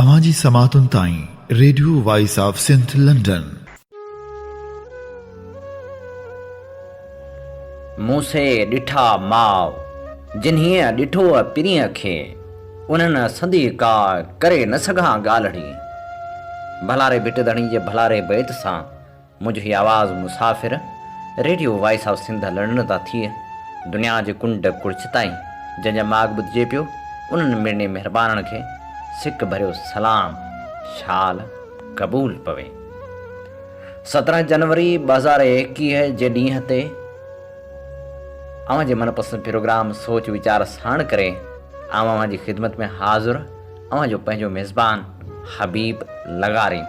اوهان جي سماعتن تائين radio voice of Sindh London. مون سي ڏٺا ماء جنھيء ڏٺوء پرينء کي انھن سندي ڪا ڪري نه سگھان ڳالھڙي. ڀلاري ڀٽ ڌڻي جي ڀلاري بيت سان منهنجو هي آواز مسافر radio voice of Sindh London تان ٿئي دنيا جي ڪنڊ ڪڙڇ تائين جنهن جا ماڳ ٻڌجي پيو انهن مڙني مهربانن کي سڪ ڀريو سلام شال قبول پوي سترهن جنوري ٻه هزار ايڪيهه جي ڏينهن تي اوهان جي من پسند پروگرام سوچ ويچار ساڻ ڪري اوهان جي خدمت ۾ حاضر اوهان جو پنهنجو ميزبان حبيب لغاري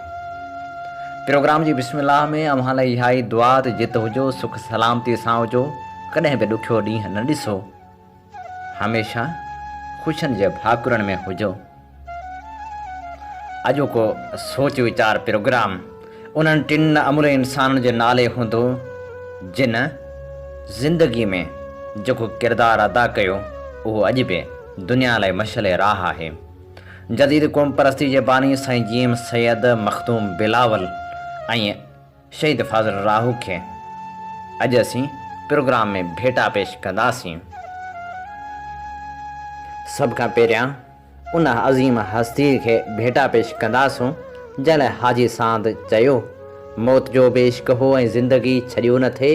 پروگرام جي بسم الله ۾ اوهان لاء اها ئي دعا ته جت هجو سک سلامتي سان هجو ڪڏهن به ڏکيو ڏينهن نه ڏسو هميشه خوشن جي ڀاڪرن ۾ هجو اڄوڪو سوچ ويچار پروگرام انهن ٽن امرين انسانن جي نالي هوندو جن زندگي ۾ جيڪو ڪردار ادا ڪيو اهو اڄ به دنيا لاء مشعل راهه آهي. جديد قوم پرستي جي باني سائين جي ايم سيد، مخدوم بلاول ۽ شهيد فاضل راهو کي اڄ اسين پروگرام ۾ ڀيٽا پيش ڪنداسين. سڀ کان پهريان ان عظيم هستيء کي ڀيٽا پيش ڪنداسون، جنهن لاء حاجي ساند چيو، موت جو به عشق هو ۽ زندگي ڇڏيو نه ٿي،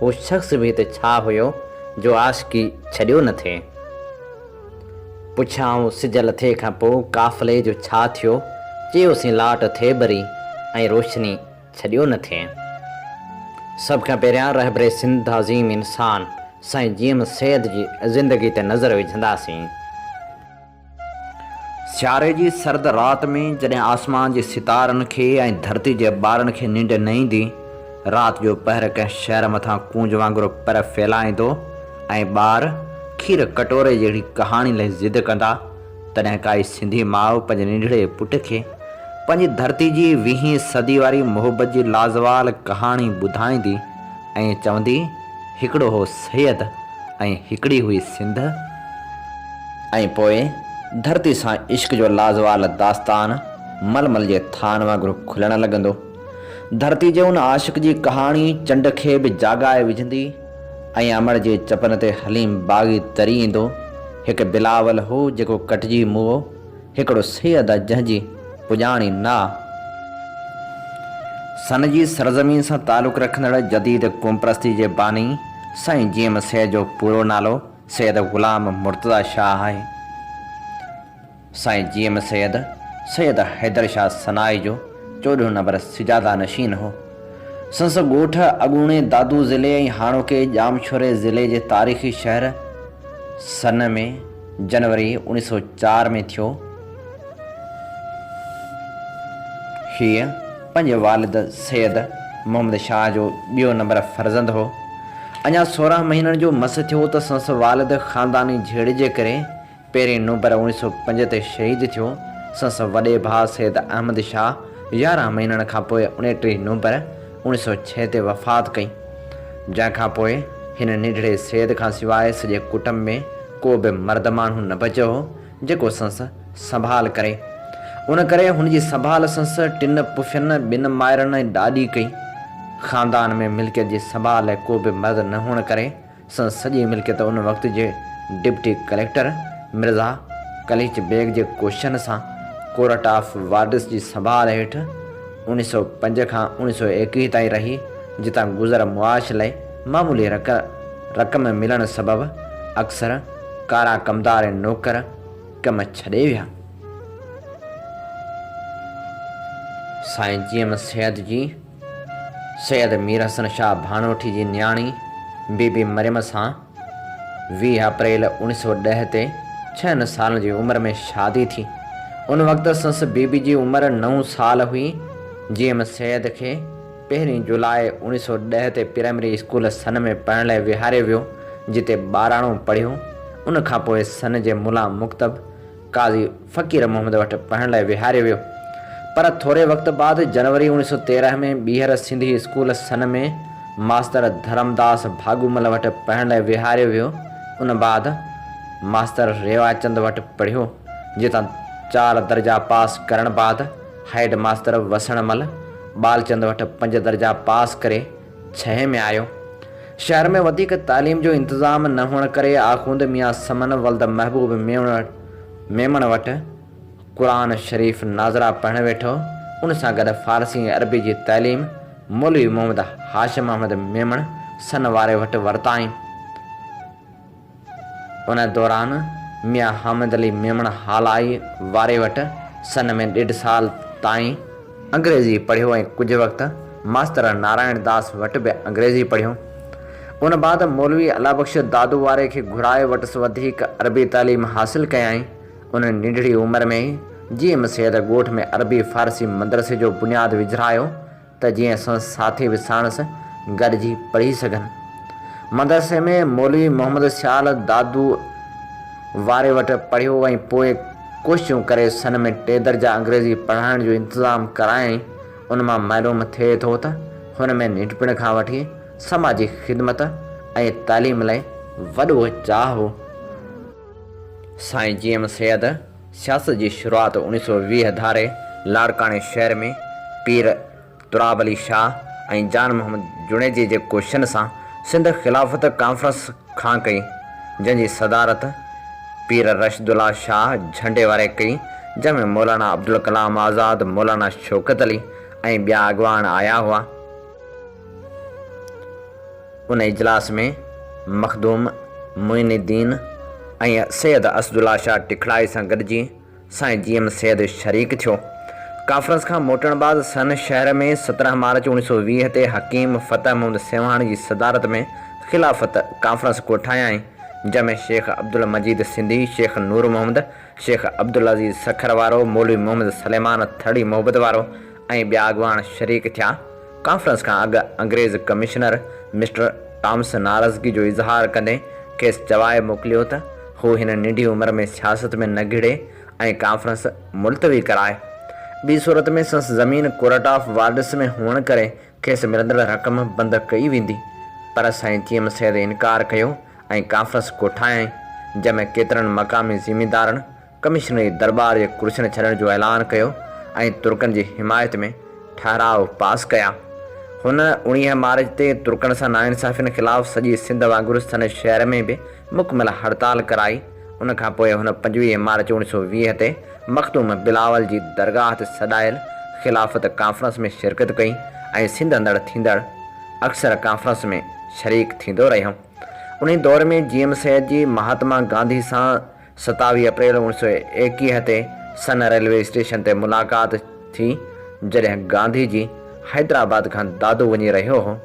هو شخص به ته ڇا هيو، جو عاشقي ڇڏيو نه ٿي. پڇيائون سج لٿي کان پوء قافلي جو ڇا ٿيو، چيوسين لاٽ ٿي ٻري ۽ روشني ڇڏيو نه ٿئين. سڀ کان پهريان رهبر سنڌ عظيم انسان سائين جي ايم سيد جي زندگي تي نظر وجهنداسين. سياري جي سرد رات ۾ جڏهن آسمان جي ستارن کي ۽ ڌرتي جي ٻارن کي ننڊ نه ايندي، رات جو پهر ڪنهن شهر مٿان ڪونج وانگر پر ڦهلائيندو ۽ ٻار کير ڪٽوري جهڙي ڪهاڻي لئي ضد ڪندا، تڏهن ڪائي سنڌي ماء پنهنجي ننڍڙي پٽ کي پنهنجي ڌرتي جي ويهين صدي واري محبت جي لازوال ڪهاڻي ٻڌائيندي ۽ چوندي، هڪڙو هو سيد ۽ هڪڙي هئي سنڌ ۽ پوء ڌرتي سان عشق جو لازوال داستان ململ جي ٿان وانگر کلڻ لڳندو. ڌرتي جي ان عاشق جي ڪهاڻي چنڊ کي به جاڳائي وجهندي. ۽ امڙ جي چپن تي حليم باغي تري ايندو، هڪ بلاول هو جيڪو ڪٽجي موئو، هڪڙو سيد آ جنهن جي پڄاڻي نه آ. سن جي سرزمين سان تعلق رکندڙ جديد قومپرستي جي باني سائين جيم سيد جو پورو نالو سيد غلام مرتضيٰ شاهه آهي. سائين جي ايم سيد، سيد حيدر شاهه سنائي جو چوڏهون نمبر سجاده نشين هو. سندس ڳوٺ اڳوڻي دادو ضلعي ۽ هاڻوڪي ڄامشوري ضلعي جي تاريخي شهر سن ۾ جنوري اوڻيهه سؤ چار ۾ ٿيو. هيء پنهنجي والد سيد محمد شاهه جو ٻيو نمبر فرزند هو. اڃا سورهن مهينن جو مس ٿيو ته سندس والد خانداني جهيڙي جي ڪري پهرين نومبر اوڻيھ سؤ پنج تي شهيد ٿيو. سندس وڏي ڀاء سيد احمد شاهه يارهن مهينن کان پوء اڻٽيھ نومبر اوڻيھ سؤ ڇهه تي وفات ڪئي. جنهن کان پوء هن ننڍڙي سيد کان سواء سڄي ڪٽنب ۾ ڪو به مرد ماڻهو نه بچيو هو جيڪو سندس سنڀال ڪري. ان ڪري هن جي سنڀال سندس ٽن پڦين، ٻن مائرن ۽ ڏاڏي ڪئي. خاندان ۾ ملڪيت جي سنڀال لاء ڪو به مرد نه هئڻ ڪري سندس سڄي ملڪيت ان وقت جي ڊپٽي ڪليڪٽر مرزا قليچ بيگ جي ڪوششن سان ڪورٽ آف وارڊس جي سنڀال هيٺ اڻ سؤ پنج کان اڻ سؤ ايڪويهه تائين رهي، جتان گذر معاش لئي معمولي رقم ملڻ سبب اڪثر ڪارا ڪمدار ۽ نوڪر ڪم ڇڏي ويا. سائين جي ايم سيد جي. سيد مير حسن شاهه ڀانوٺي جي نياڻي بي بي مريم سان ويهه اپريل اوڻيهه سؤ ڏهه تي ڇهن سالن جي عمر ۾ شادي ٿي. ان وقت سس بي بي جي عمر نو سال هئي. جي ايم سيد کي پهرين جولاء اوڻيهه سؤ ڏهه تي پرائمري اسڪول سن ۾ پڙهڻ لاء ويهاريو ويو جتي ٻاراڻو پڙهيو. ان کانپوء سن جي ملا مڪتب، قاضي فقير محمد وٽ پڙهڻ لاء ويهاريو ويو، پر ٿوري وقت بعد جنوري اوڻيھ سؤ تيرنهن ۾ ٻيهر سنڌي اسڪول سن ۾ ماستر ڌرمداس ڀاڳومل وٽ پڙهڻ لاء ويهاريو ويو، ان بعد ماستر ريواچند وٽ پڙهيو، جتان چار درجا پاس ڪرڻ بعد هيڊ ماستر وسڻ مل ٻالچند وٽ پنج درجا پاس ڪري، ڇهين ۾ آيو. شهر ۾ وڌيڪ تعليم جو انتظام نه هئڻ ڪري آخوند ميان سمن ولد محبوب ميمڻ وٽ قرآن شريف ناظره پڙهڻ ويٺو. ان سان گڏ فارسي ۽ عربي جي تعليم مولوي محمد هاشم احمد ميمڻ سن واري وٽ ورتائين. ان دوران ميان حامد علي ميمڻ هالائي واري وٽ سن ۾ ڏيڍ سال تائين انگريزي پڙهيو ۽ ڪجهه وقت ماستر نارائڻ داس وٽ به انگريزي پڙهيو. ان بعد مولوي الله بخش دادو واري کي گهرائي وٽس وڌيڪ عربي تعليم حاصل ڪيائين. ان ننڍڙي عمر ۾ ئي جي ايم سيد ڳوٺ ۾ عربي فارسي مدرسي جو بنياد وجهرايو. ته جيئن اسان ساٿي به ساڻس گڏجي پڙهي سگهن. مدرسي ۾ مولوي محمد سيال دادو واري وٽ پڙهيو ۽ پوء ڪوششون ڪري سن ۾ ٽي درجا انگريزي پڙهائڻ جو انتظام ڪرايائين. ان مان معلوم ٿئي ٿو ته هن ۾ ننڍپڻ کان وٺي سماجي خدمت ۽ تعليم لاء وڏو چاهه هو. سائين جي ايم سيد. سياست جي شروعات اوڻيهه سؤ ويهه ڌاري لاڙڪاڻي شهر ۾ پير تراب علي شاهه ۽ جان محمد جوڻيجي جي ڪوششن سان سنڌ خلافت ڪانفرنس کان ڪئي، جنهن جي صدارت پير رشد الله شاهه جهنڊي واري ڪئي، جنهن ۾ مولانا عبدالڪلام آزاد، مولانا شوڪت علي ۽ ٻيا اڳواڻ آيا هئا. ان اجلاس ۾ مخدوم معين الدين ۽ سيد اسدالله شاهه ٽکڙائي سان گڏجي سائين جي ايم سيد شريڪ ٿيو. ڪانفرنس کان موٽڻ بعد سن شهر ۾ سترهن مارچ اوڻيهه سؤ ويهه تي حڪيم فتح محمد سيوهاڻ جي صدارت ۾ خلافت ڪانفرنس ڪوٺايائين جنهن ۾ شيخ عبدالمجيد سنڌي، شيخ نور محمد، شيخ عبدالعزيز سکر وارو، مولوي محمد سليمان ٿرڙي محبت وارو، ۽ ٻيا اڳواڻ شريڪ ٿيا. ڪانفرنس کان اڳ انگريز ڪمشنر مسٽر ٽامس ناراضگي جو اظهار ڪندي کيس چوائي موڪليو ته هو هن ننڍي عمر ۾ سياست ۾ نه گهڙي ۽ ڪانفرنس ملتوي ڪرائي. ٻي صورت ۾ سنس زمين ڪورٽ آف وارڊس ۾ هئڻ ڪري کيس ملندڙ رقم بند ڪئي ويندي. پر سائين چيم سيد انڪار ڪيو ۽ ڪانفرنس ڪوٺايائين، جنهن ۾ ڪيترن مقامي زميندارن، ڪمشنري درٻار جي ڪرسين ڇڏڻ جو اعلان ڪيو ۽ ترڪن جي حمايت ۾ ٺهراء پاس ڪيا. هن اوڻيهه مارچ تي ترڪن سان ناانصافين خلاف سڄي سنڌ وانگر سنڌ شهر ۾ به مڪمل هڙتال ڪرائي. ان کان پوء هن پنجويهه مارچ اوڻيهه سؤ ويهه تي مخدوم بلاول جي درگاهه تي سڏايل خلافت ڪانفرنس ۾ شرڪت ڪئي ۽ سنڌ اندر ٿيندڙ اڪثر ڪانفرنس ۾ شريڪ ٿيندو رهيو. انهي دور ۾ جي ايم سيد جي مهاتما گانڌي سان ستاويهه اپريل اوڻ سؤ ايڪيهه تي سن ريلوي اسٽيشن تي ملاقات ٿي، جڏهن گانڌي جي حيدرآباد کان دادو وڃي رهيو هو.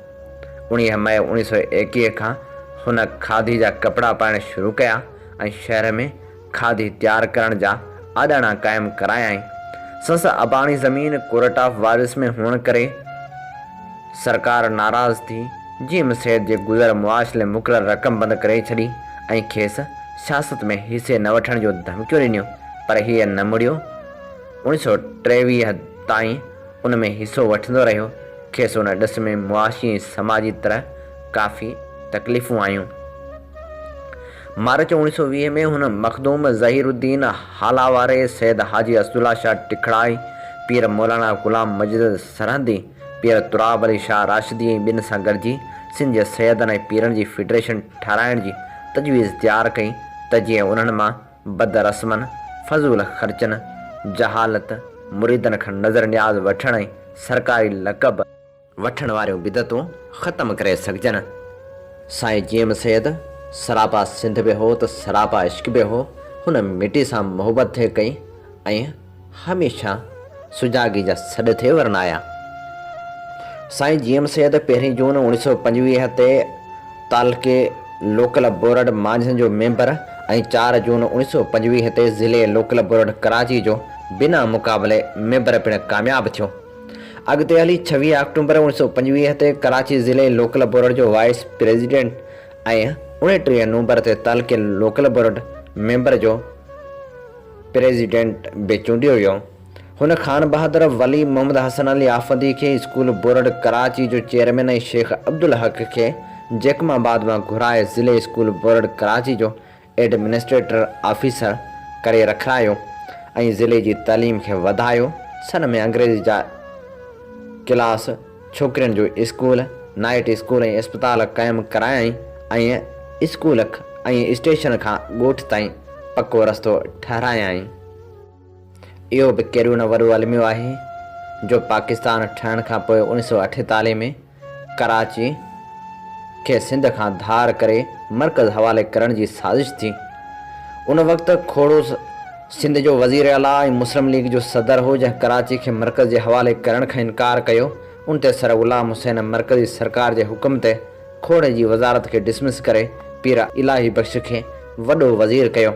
اڻيهه مئي اوڻيهه سؤ ايڪيهه کان هن کاڌي جا ڪپڙا پائڻ شروع ڪيا ۽ شهر ۾ کاڌي تيار ڪرڻ جا آڏاڻا قائم ڪرايائين. سنس اباڻي زمين ڪورٽ آف وارث ۾ هئڻ ڪري، سرڪار ناراض ٿي جي ايم سيد جي گذر معاش لاء مقرر رقم بند ڪري ڇڏي ۽ کيس سياست ۾ حصي نه وٺڻ جون ڌمڪيون ڏنيون پر هيء نه مڙيو. اوڻيھ سؤ ٽيويهه تائين ان ۾ حصو وٺندو رهيو. کيس ان ڏس ۾ معاشي ۽ سماجي طرح ڪافي تڪليفون آيون. مارچ اوڻيهه سؤ ويهه ۾ هن مخدوم ظهير الدين هالا واري، سيد حاجي اسدالله شاهه ٽکڙائي، پير مولانا غلام مجد سرهندي، پير تراب علي شاهه راشدي ۽ ٻين سان گڏجي سنڌ جي سيدن ۽ پيرن جي فيڊريشن ٺهرائڻ جي تجويز تيار ڪئي ته جيئن انهن مان بد رسمن، فضول خرچن، جهالت، مريدن کان نذر نياز وٺڻ ۽ سرڪاري لقب. وٺڻ واريون بدعتون ختم ڪري سگهجن. سائين جيئم سيد سراپا سنڌ به هو ته سراپا عشق به هو، هن مٽي سان محبت ٿي ڪئي ۽ هميشه سجاڳي جا سڏ ٿي ورنايا. سائين جيئم سيد پهرين جون اوڻيهه سؤ پنجويهه تي تعلقي لوڪل بورڊ مانجهن جو ميمبر ۽ چار جون اوڻيهه سؤ پنجويهه تي ضلعي لوڪل بورڊ ڪراچي جو بنا مقابلي ميمبر پڻ ڪامياب ٿيو. اڳتي هلي ڇويهه آڪٽومبر اوڻ سؤ پنجويهه تي ڪراچي ضلعي لوڪل بورڊ جو وائيس پريزيڊنٽ ۽ اوڻيٽيهه نومبر تي تعلقي لوڪل بورڊ ميمبر جو پريزيڊنٽ به چونڊيو ويو. هن خان بهادر ولي محمد حسن علي آفندي کي اسڪول بورڊ ڪراچي جو چيئرمين ۽ شيخ عبدالحق کي جيڪم آباد مان گهرائي ضلعي اسڪول بورڊ ڪراچي جو ايڊمنسٽريٽر آفيسر ڪري رکرايو ۽ ضلعي جي تعليم کي وڌايو، سن ۾ انگريزي جا ڪلاس، ڇوڪرين جو اسڪول، نائيٽ اسڪول ۽ اسپتال قائم ڪرايائين ۽ اسڪول ۽ اسٽيشن کان ڳوٺ تائين پڪو رستو ٺهرايائين. اهو به ڪهڙو نه وڏو الميو آهي جو پاڪستان ٺهڻ کان پوء اوڻيھ سؤ اٺيتاليھ ۾ ڪراچي کي سنڌ کان ڌار ڪري مرڪز حوالي ڪرڻ جي سازش ٿي. ان وقت کوڙو سنڌ جو وزير اعليٰ ۽ مسلم ليگ جو صدر هو جنهن ڪراچي کي مرڪز جي حوالي ڪرڻ کان انڪار ڪيو. ان تي سر غلام حسين مرڪزي سرڪار جي حڪم تي کوڙي جي وزارت کي ڊسمس ڪري پير الاهي بخش کي وڏو وزير ڪيو.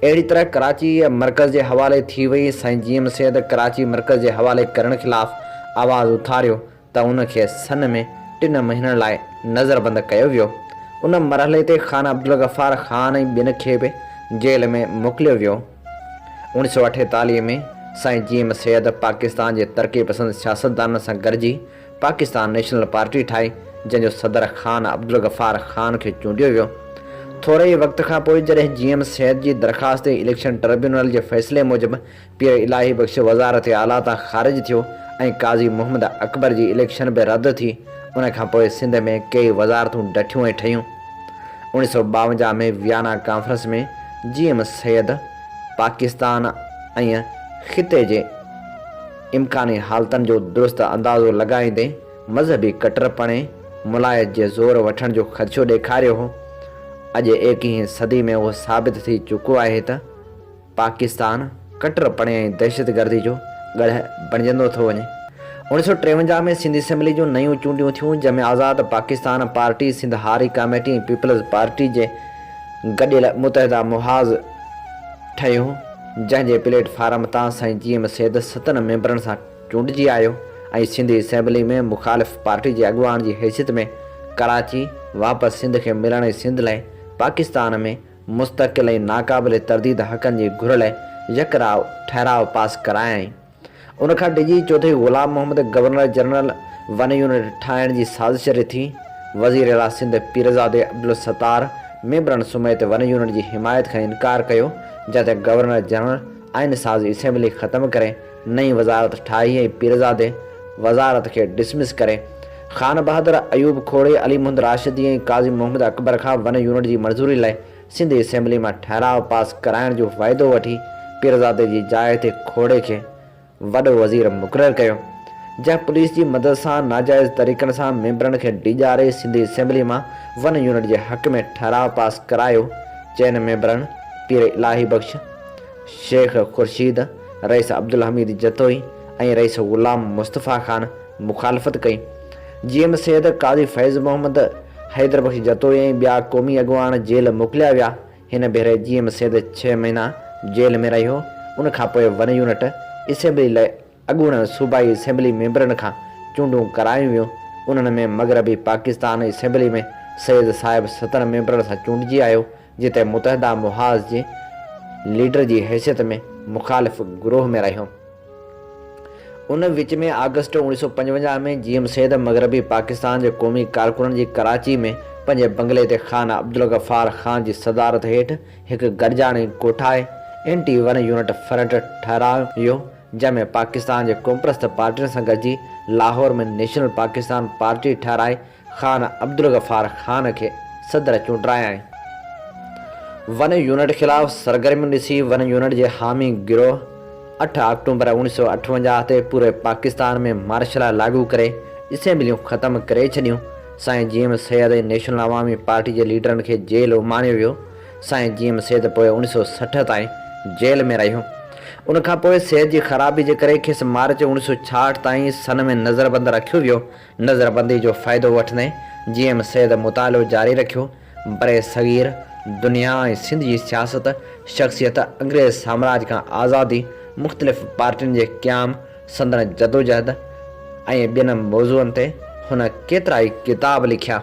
اهڙي طرح ڪراچي مرڪز جي حوالي ٿي وئي. سائين جي ايم سيد ڪراچي مرڪز جي حوالي ڪرڻ خلاف آواز اٿاريو. ته ان کي سن ۾ ٽن مهينن لاء نظربند ڪيو ويو. ان مرحلي تي خان عبدالغفار خان ۽ ٻين کي به جيل ۾ موڪليو ويو. اوڻيھ سؤ اٺيتاليھ ۾ سائين جي ايم سيد پاڪستان جي ترقي پسند سياستدانن سان گڏجي پاڪستان نيشنل پارٽي ٺاهي جنهن جو صدر خان عبدالغفار خان کي چونڊيو ويو. ٿوري ئي وقت کان پوء جڏهن جي ايم سيد جي درخواست تي اليڪشن ٽربيونل جي فيصلي موجب پير الاهي بخش وزارت اعليٰ تان خارج ٿيو ۽ قاضي محمد اڪبر جي اليڪشن به رد ٿي. ان کان پوء سنڌ ۾ ڪيئي وزارتون ڊٺيون ۽ ٺهيون. اوڻيھ سؤ ٻاونجاھ ۾ Vienna conference ۾ G M Syed Pakistan ۽ خطي جي امڪاني حالتن جو درست اندازو لڳائيندي مذهبي ڪٽرپڻي ملايت جي زور وٺڻ جو خدشو ڏيکاريو هو. اڄ ايڪيهين صدي ۾ اهو ثابت ٿي چڪو آهي ته، پاڪستان ڪٽرپڻي ۽ دهشتگردي جو ڳڙهه بڻجندو ٿو وڃي. اوڻيهه سؤ ٽيونجاهه ۾ سنڌ اسيمبلي جون نيون چونڊيون ٿيون، جنهن ۾ آزاد Pakistan party, Sindh Hari committee ۽ peoples party جي گڏيل متحده محاذ ٺهيو، جنهن جي پليٽ فارم تان سائين جي ايم سيد ستن ميمبرن سان چونڊجي آيو ۽ سنڌ اسيمبلي ۾ مخالف پارٽي جي اڳواڻ جي حيثيت ۾ ڪراچي واپس سنڌ کي ملڻ ۽ سنڌ لاء پاڪستان ۾ مستقل ۽ ناقابل ترديد حقن جي گهر لاء يڪ راء ٺهراء پاس ڪرايائين. ان کان ڊڄي Chaudhry Ghulam Muhammad governor general one unit ٺاهڻ جي سازش رٿي. وزير اعليٰ سنڌ پيرزادي عبدالستار ميمبرن سميت ون يونٽ جي حمايت کان انڪار ڪيو، جنهن تي گورنر جنرل آئين ساز اسيمبلي ختم ڪري، نئين وزارت ٺاهي ۽ پيرزادي وزارت کي ڊسمس ڪري خانبهادر ايوب کوڙي، علي محمد راشدي ۽ قاضي محمد اڪبر کان ون يونٽ جي منظوري لاء سنڌ اسيمبلي مان ٺهراء پاس ڪرائڻ جو وعدو وٺي پيرزادي جي جاء تي کوڙي کي وڏو وزير مقرر ڪيو جنهن پوليس جي مدد سان ناجائز طريقن سان ميمبرن کي ڊيڄاري سنڌ اسيمبلي مان ون يونٽ جي حق ۾ ٺهراء پاس ڪرايو چئن ميمبرن پير الاهي بخش، شيخ خورشيد، رئيس عبدالحميد جتوئي ۽ رئيس غلام مصطفيٰ خان مخالفت ڪئي. جي ايم سيد، قاضي فيض محمد، حيدر بخش جتوئي ۽ ٻيا قومي اڳواڻ جيل موڪليا ويا. هن ڀيري جي ايم سيد ڇهه مهينا جيل ۾ رهيو. ان کان پوء ون يونٽ اسيمبلي لاء اڳوڻن صوبائي اسيمبلي ميمبرن کان چونڊون ڪرايون ويون. انهن ۾ مغربي پاڪستان اسيمبلي ۾ سيد صاحب ستن ميمبرن سان چونڊجي آيو. جتي متحده محاذ جي ليڊر جي حيثيت ۾ مخالف گروهه ۾ رهيو. ان وچ ۾ آگسٽ اوڻيهه سؤ پنجونجاهه ۾ جي ايم سيد مغربي پاڪستان جي قومي ڪارڪنن جي ڪراچي ۾ پنهنجي بنگلي تي خان عبدالغفار خان جي صدارت هيٺ هڪ گڏجاڻي ڪوٺائي اينٽي ون يونٽ فرنٽ ٺهرايو جنهن ۾ پاڪستان جي قومپرست پارٽين سان گڏجي لاهور ۾ نيشنل پاڪستان پارٽي ٺهرائي خان عبدالغفار خان کي صدر چونڊرايائين. ون يونٽ خلاف سرگرميون ڏسي ون يونٽ جي حامي گروهه اٺ آڪٽوبر اوڻيھ سؤ اٺونجاھ تي پوري پاڪستان ۾ مارشل لا لاڳو ڪري اسيمبليون ختم ڪري ڇڏيون، سائين G M Syed ۽ national Awami party جي ليڊرن کي جيل اماڻيو ويو، سائين جي ايم سيد پوء اوڻيھ سؤ سٺ تائين جيل ۾ رهيو، ان کانپوء صحت جي خرابي جي ڪري کيس مارچ اوڻيھ سؤ ڇاهٺ تائين سن ۾ نظربند رکيو ويو. نظربندي جو فائدو وٺندي جي ايم سيد مطالعو جاري رکيو. برصغير، دنيا ۽ سنڌ جي سياست، شخصيت، انگريز سامراج کان آزادي، مختلف پارٽين جي قيام، سندن جدوجهد ۽ ٻين موضوعن تي هن ڪيترائي ڪتاب لکيا.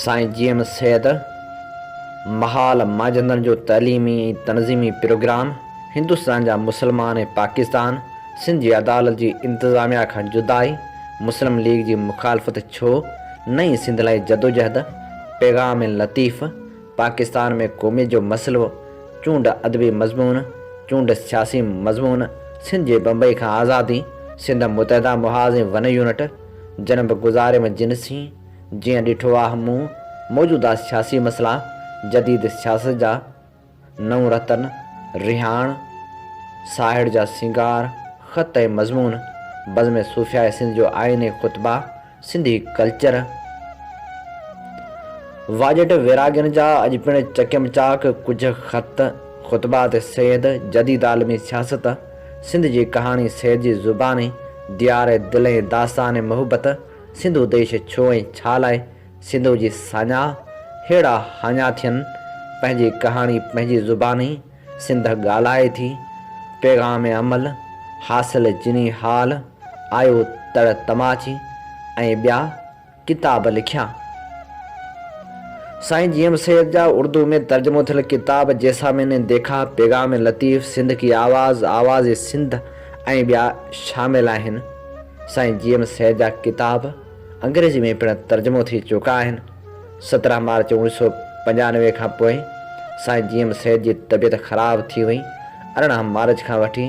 سائين جي ايم سيد محال مانجهندڙن جو تعليمي ۽ تنظيمي پروگرام هندستان جا مسلمان ۽ پاڪستان سنڌ جي عدالت جي انتظاميا کان جدائي، مسلم ليگ جي مخالفت ڇو، نئين سنڌ لاء جدوجهد، پيغام لطيف، پاڪستان ۾ قوميت جو مسئلو، چونڊ ادبي مضمون، چونڊ سياسي مضمون، سنڌ جي بمبئي کان آزادي، سنڌ متحده محاذ ۽ ون يونٽ، جنھن به گذاري ۾ جن سين جيئن ڏٺو آھ مون موجوده سياسي مسئلا، جديد سياست جا نو رتن، رهاڻ ساهڙ جا سينگار خط ۽ مضمون، بزم صوفياء سنڌ جو آئين ۽ خطبا، سنڌي ڪلچر، واجهٽ ويراڳين جا اڄ پڻ چڪيم چاڪ ڪجهه خط، خطبات سيد، جديد عالمي سياست، سنڌ جي ڪهاڻي سيد جي زباني، ديار دل ۽ داستان محبت، سنڌو ديش ڇو ۽ ڇا لاء، سنڌو جي ساڃاهه، هيڙا هاڃا ٿين، پنهنجي ڪهاڻي پنهنجي زباني، سنڌ ڳالهائي ٿي، پيغام امل، حاصل جني حال، آيو تڙ تماچي ۽ ٻيا ڪتاب لکيا. سائين جي ايم سيد جا اردو ۾ ترجمو ٿيل ڪتاب جيسا مين ني ديکا، پيغام لطيف، سنڌ ڪي آواز، آواز سنڌ ۽ ٻيا شامل آهن. سائين جي ايم سيد جا ڪتاب انگريزي ۾ پڻ ترجمو ٿي چڪا آهن. سترهن مارچ اوڻيهه سؤ پنجانوي کان پوء سائين جي ايم سيد جي طبيعت خراب ٿي وئي. ارڙهن مارچ کان وٺي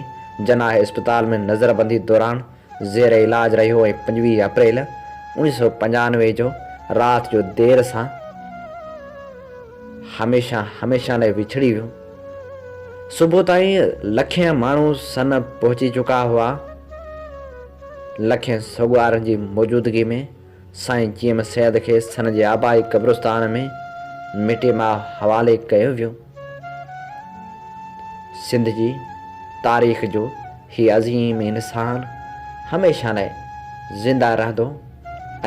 جناح اسپتال ۾ نظربندي دوران زير علاج رهيو ۽ پنجويهه اپريل اوڻيهه سؤ پنجانوي جو رات جو دير سان هميشه هميشه لاء وڇڙي ويو. صبح تائين لکين ماڻهو سن پهچي چڪا هئا. لکين سوڳوارن جي موجودگي ۾ سائين جيئم سيد کي سن جي آبائي قبرستان ۾ مٽي ماء حوالي ڪيو ويو. سنڌ جي تاريخ جو هي عظيم انسان هميشه لاء زنده رهندو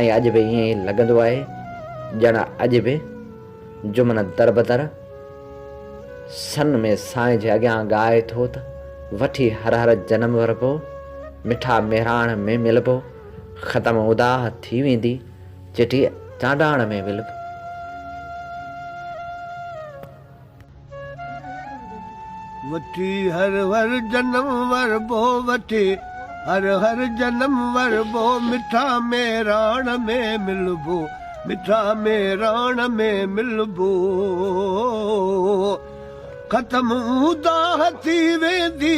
۽ اڄ به ائين ئي لڳندو آهي ڄڻ اڄ به جمن دربدر سن ۾ سائين جي اڳيان ڳائي ٿو ته وٺي هر هر جنم وربو، مٺا مهراڻ ۾ ملبو، ختم اداه ٿي ويندي، چٽيء چانڊاڻ ۾ ولڀ. وٺي هر هر جنم وربو وٺي هر هر جنم وربو مٺا ميراڻ ۾ ملبو مٺا ميراڻ ۾ ملبو ختم اوندا ٿي ويندي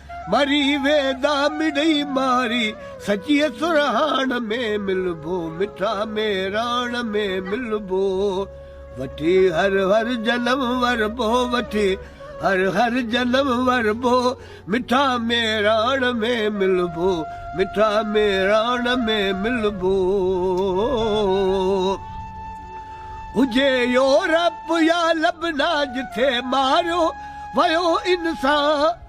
مري ويندا مڙئي ماري سچيء سرهاڻ ۾ ملبو مٺا ميراڻ ۾ ملبو وٺي هر هر جنم وربو وٺي هر هر جنم وربو مٺا ميراڻ ۾ ملبو مٺا ميراڻ ۾ ملبو هجي يورپ يا لبنا جتي ماريو ويو انسان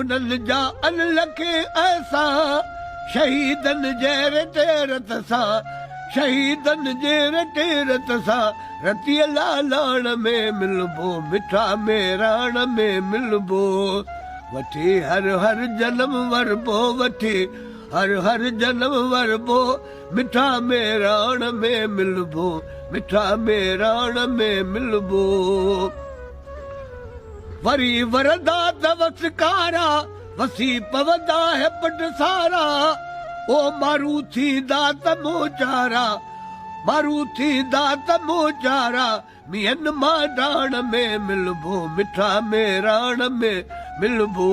انهن جا ان لکين احسان شهيدن جي رتي رت سان شهيدن جي رتي رت سان رتيء لالاڻ ۾ ملبو مٺا ميراڻ ۾ ملبو وٺي هر هر جنم وربو وٺي هر هر جنم وربو مٺا ميراڻ ۾ ملبو مٺا ميراڻ ۾ ملبو. وري وردا ته وس ڪارا، وسي پوندا هي پٽ سارا، او مارو ٿيندا ته مون جارا، مارو ٿيندا ته مون جارا، مينهن مان ڊاڻ ۾ ملبو، مٺا ميراڻ ۾ ملبو،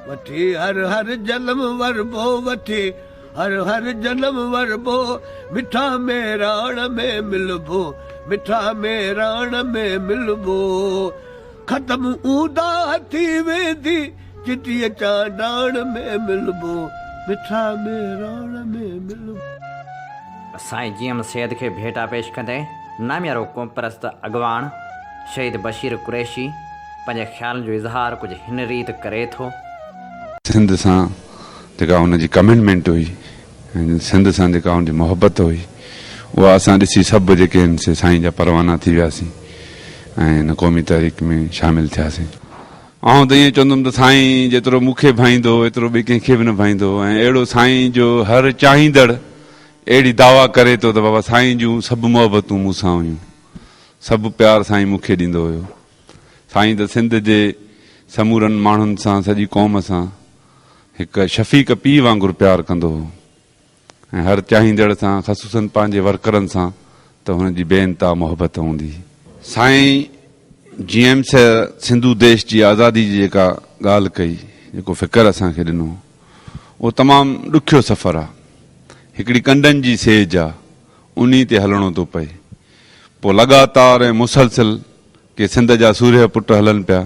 وٺي هر هر جلم وربو، وٺي. هر هر جنم وربو، مٺا مهراڻ ۾ ملبو، مٺا مهراڻ ۾ ملبو. ختم اونداهه ٿي ويندي، چٽيء چانڊاڻ ۾ ملبو، مٺا مهراڻ ۾ ملبو. سائين جي ايم سيد کي ڀيٽا پيش ڪندي ناميارو قومپرست اڳواڻ شهيد بشير قريشي پنهنجي خيالن جو اظهار ڪجهه هن ريت ڪري ٿو. سنڌ سان جيڪا هن جي ڪمنٽمينٽ هئي ۽ سنڌ سان جيڪا هن جي محبت هئي اها اسان ڏسي سڀ جيڪي آهن سي سائين جا پروانا ٿي وياسين ۽ هن قومي تحريڪ ۾ شامل ٿياسين. آئون ته ائين چوندم ته سائين جيترو مون کي ڀائيندو ايترو ٻي ڪنهن کي به نه ڀائيندو ۽ اهڙو سائين جو هر چاهيندڙ اهڙي دعويٰ ڪري ٿو ته بابا سائين جون سڀ محبتون مون سان هيون سڀ پيار سائين مون کي ڏيندو هيو سائين ته سنڌ جي سمورن ماڻهن سان سڄي قوم سان هڪ شفيق پيء وانگر پيار ڪندو هو ۽ هر چاهيندڙ سان خصوصاً پنهنجي ورڪرن سان ته هن جي بي انتها محبت هوندي هئي. سائين جي ايم سر سنڌو ديش جي آزادي جي جيڪا ڳالهه ڪئي، جيڪو فڪر اسان کي ڏنو، اهو تمام ڏکيو سفر آ. هڪڙي ڪنڊن جي سيج آ، انهي تي هلڻو ٿو پئي. پوء لڳاتار ۽ مسلسل ڪي سنڌ جا سورهيه پٽ هلن پيا،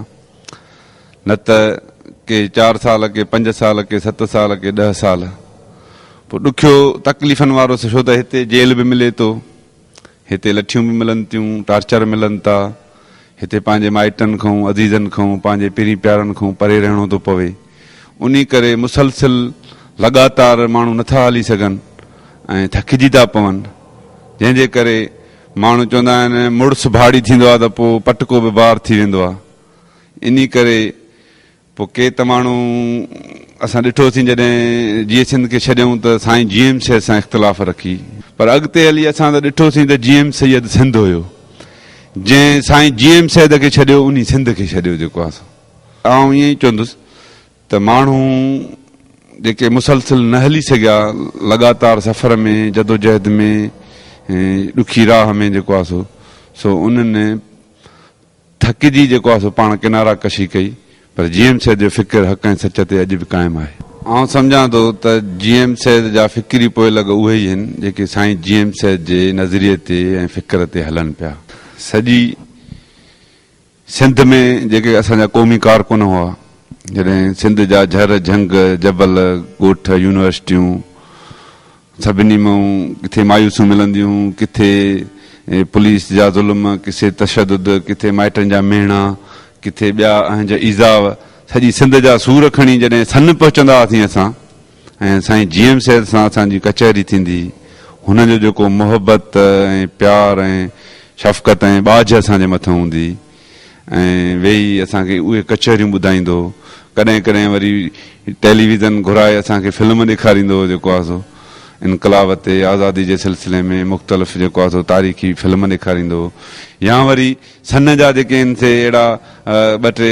نه ته ڪي چار سال، ڪي پنج سال، ڪي ست سال، ڪي ڏهه سال. پوء ڏکيو تڪليفن وارو ڇو ته هتي جيل به ملي ٿو، هتي لٺيون به ملن ٿيون، ٽارچر ملن ٿا، هتي پنهنجي مائٽن کان، عزيزن کان، پنهنجي پرين پيارن کان پري رهڻو ٿو پوي. انهي ڪري مسلسل لڳاتار ماڻهو نٿا هلي سگهن ۽ ٿڪجي ٿا پون، جنهن جي ڪري، ماڻهو چوندا آهن مڙس ڀاڙي ٿيندو آهي ته پوء پٽڪو به بار ٿي ويندو آهي انهي ڪري پوء ڪي ته ماڻهو اسان ڏٺوسين جڏهن جيئي سنڌ کي ڇڏيائون ته سائين جي ايم سيد سان اختلاف رکي پر اڳتي هلي اسان ته ڏٺوسين ته جي ايم سيد سنڌ هيو جنهن سائين جي ايم سيد کي ڇڏيو انهي سنڌ کي ڇڏيو جيڪو آسان آئون ائين ئي چوندس ته ماڻهو جيڪي مسلسل نه هلي سگهيا لڳاتار سفر ۾ جدوجهد ۾ ڏکي راهه ۾ جيڪو آهي سو سو انهن ٿڪجي جيڪو آهي سو پاڻ ڪنارا ڪشي ڪئي پر جي ايم سيد جو فڪر حق ۽ سچ تي اڄ به قائم آهي. آئون سمجهان ٿو ته جي ايم سيد جا فڪري پوئلڳ اهي ئي آهن جيڪي سائين جي ايم سيد جي نظريي تي ۽ فڪر تي هلن پيا سڄي سنڌ ۾ جيڪي اسان جا قومي ڪارڪن هئا، جڏهن سنڌ جا جھر، جھنگ، جبل، ڳوٺ، يونيورسٽيون، سڀني مان ڪٿي مايوسيون ملنديون، ڪٿي پوليس جا ظلم، ڪٿي تشدد، ڪٿي مائٽن جا ميڻا، ڪٿي ٻيا اهنج ايذاء، سڄي سنڌ جا سور کڻي جڏهن سن پهچندا هئاسين اسان، ۽ سائين جي ايم سيد سان اسان جي ڪچهري ٿيندي هن جو جيڪو محبت ۽ پيار ۽ شفقت ۽ ٻاجهه اسان جي مٿن هوندي ۽ ويهي اسان کي اهي ڪچهريون ٻڌائيندو ڪڏهن ڪڏهن وري ٽيلي ويزن گهرائي اسان کي فلم ڏيکاريندو هو جيڪو آهي سو انقلاب تي آزادي جي سلسلي ۾ مختلف جيڪو آهي سو تاريخي فلم ڏيکاريندو هو يا وري سن جا جيڪي آهن سي اهڙا ٻه ٽي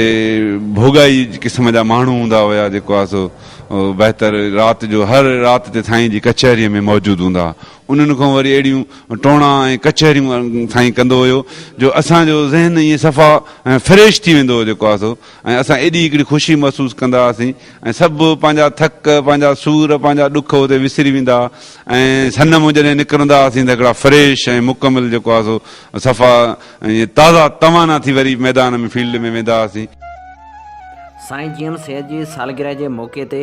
ڀوڳائي قسم جا ماڻهو هوندا هيا جيڪو آهي سو بهتر رات جو هر رات تي سائين جي ڪچهري ۾ موجود هوندا ها انهن کان وري اهڙيون ٽوڻا ۽ ڪچهريون سائين ڪندو هيو جو اسان جو ذهن ائين صفا فريش ٿي ويندو هو جيڪو آهي سو ۽ اسان ايڏي هڪڙي خوشي محسوس ڪندا هئاسين ۽ سڀ پنهنجا ٿڪ، پنهنجا سور، پنهنجا ڏک اتي وسري ويندا هئا ۽ سن مون جڏهن نڪرندا هئاسين ته هڪڙا فريش ۽ مڪمل جيڪو آهي سو صفا ائين تازا توانا ٿي وري ميدان ۾ فيلڊ ۾ ويندا هئاسين. سائين جي ايم سيد جي سالگرهه جي موقعي تي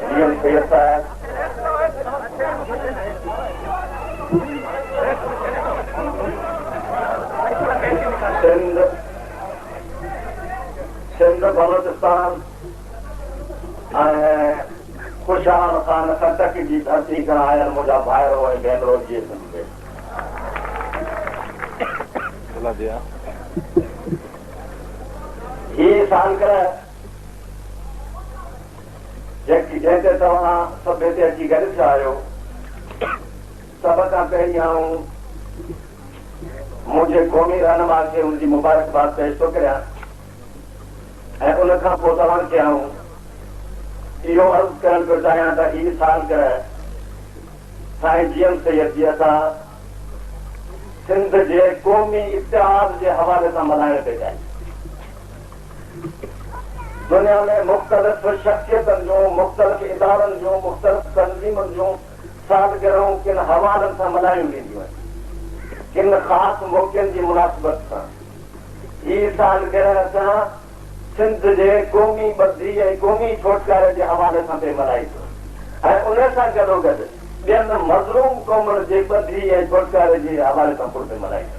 ڊي ايم سيد صاحب سنڌ سنڌ بلوچستان خوشحال خان ڪٽڪ جي ڌرتي کان آيل منهنجا ڀائرو ۽ ڀينرو جي سنڌ هي سالگرهه جنهن تي توهان سڀ هتي اچي گڏ ٿيا آهيو، سڀ کان پهرين آئون منهنجي قومي رهنما کي ان جي مبارڪباد پيش ٿو ڪريان ۽ ان کان پوء توهان کي آئون اهو عرض ڪرڻ پيو چاهيان ته هي سال گرهه سائين جي ايم سيد جي اسان سنڌ جي قومي اتحاد جي حوالي سان ملهائڻ پيا چاهيون. دنيا ۾ مختلف شخصيتن جون، مختلف ادارن جون، مختلف تنظيمن جون سالگرهون ڪن حوالن سان ملهايون وينديون آهن. ڪن خاص موقعن جي مناسبت سان. هي سالگرهه اسان سنڌ جي قومي ٻڌي ۽ قومي ڇوٽڪاري جي حوالي سان پئي ملهائيندو ۽ ان سان گڏوگڏ ٻين مظلوم قومن جي ٻڌي ۽ ڇوٽڪاري جي حوالي سان پڻ پئي ملهائيندو.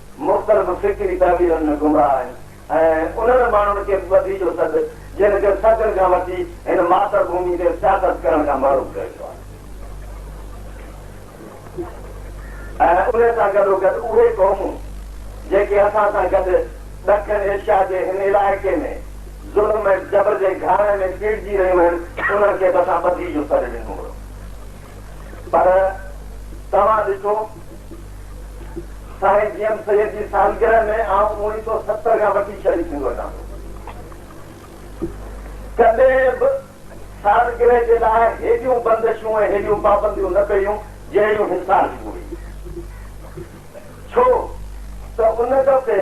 مختلف فڪري تعبيرن ۾ گمراهه آهن ۽ انهن ماڻهن کي به ٻڌي جو سڏ، جن کي صدين کان وٺي هن ماتر ڀومي تي سياست ڪرڻ کان محروم ڪيو ويو آهي ۽ انهي سان گڏوگڏ اهي قومون جيڪي اسان سان گڏ ڏکڻ ايشيا جي هن علائقي ۾ ظلم ۽ جبر جي گهاڻي ۾ پيڙجي رهيون آهن، انهن کي به اسان ٻڌي جو سڏ ڏنو هيو. پر توهان ڏٺو سائين جي ايم سيد جي سالگرهه ۾ آئون اوڻيهه سؤ ستر کان وٺي شريڪ ٿيندو اچان ٿو. ڪڏهن به سالگرهه جي لاء هيڏيون بندشون ۽ هيڏيون پابنديون نه ڪيون جهڙيون هن سال ڪيون هيون. ڇو ته ان دفعي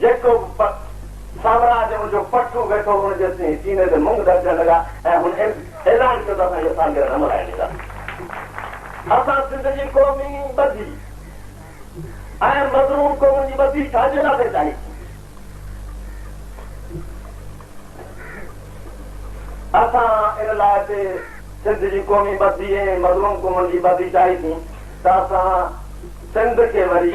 جيڪو به پٽ سامراء جي ان جو پٺ ويٺو ان جي سيني تي مڱ ڌڙڪڻ لڳا ۽ هن اعلان ڪيو ته اسان اها سالگرهه نه ملهائڻ ڏينداسين. اسان سنڌ جي قومي ٻڌي ۽ مظلوم قومن جي ٻڌي ڇا جي واسطي چاهيسون؟ اسان ان لاء ته سنڌ جي قومي ٻڌي ۽ مظلوم قومن جي ٻڌي چاهيسون ته اسان سنڌ کي وري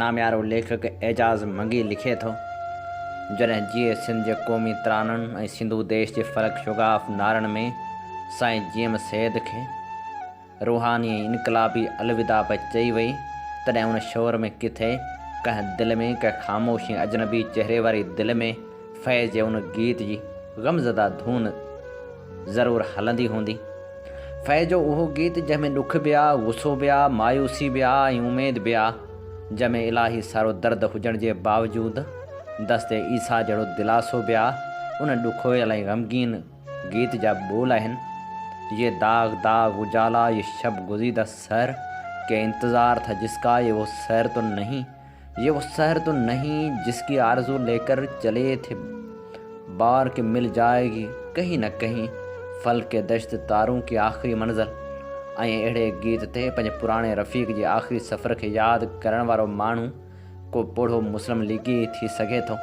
ناميارو ليکڪ اعجاز منگي لکي ٿو، جڏهن جيئي سنڌ جي قومي ترانن ۽ سنڌو ديش جي فرق شگاف نعرن ۾ سائين جي ايم سيد کي روحاني ۽ انقلابي الوداع پئي چئي وئي، تڏهن ان شعر ۾ ڪٿي ڪنهن دل ۾ ڪنهن خاموش ۽ اجنبي چهري واري دل ۾ فيض جي ان گيت جي غمزده ڌن ضرور هلندي هوندي. فيء جو اهو گيت جنهن ۾ ڏک به آ، غصو به آ، مايوسي به آ ۽ اميد به آ، جنهن ۾ الاهي سارو درد هجڻ جي باوجود دست عيسيٰ جهڙو دلاسو به آ، ان ڏکويل ۽ غمگين گيت جا ٻول آهن، يي داغ داغ اجالا، يي شب گزيده سحر، ڪي انتظار ٿا جس ڪا، يي وو سحر تو نهين، يي وو سحر تو نهين جس ڪي آرزو لي ڪر چلي ٿي بار ڪي مل جائي گي ڪهين نه ڪهين ڦل ڪي دشت تارون ڪي آخري منزل ۽ اهڙي گيت تي پنهنجي پراڻي رفيق جي آخري سفر کي ياد ڪرڻ وارو ماڻهو ڪو پوڙهو مسلم ليگي ٿي سگهي ٿو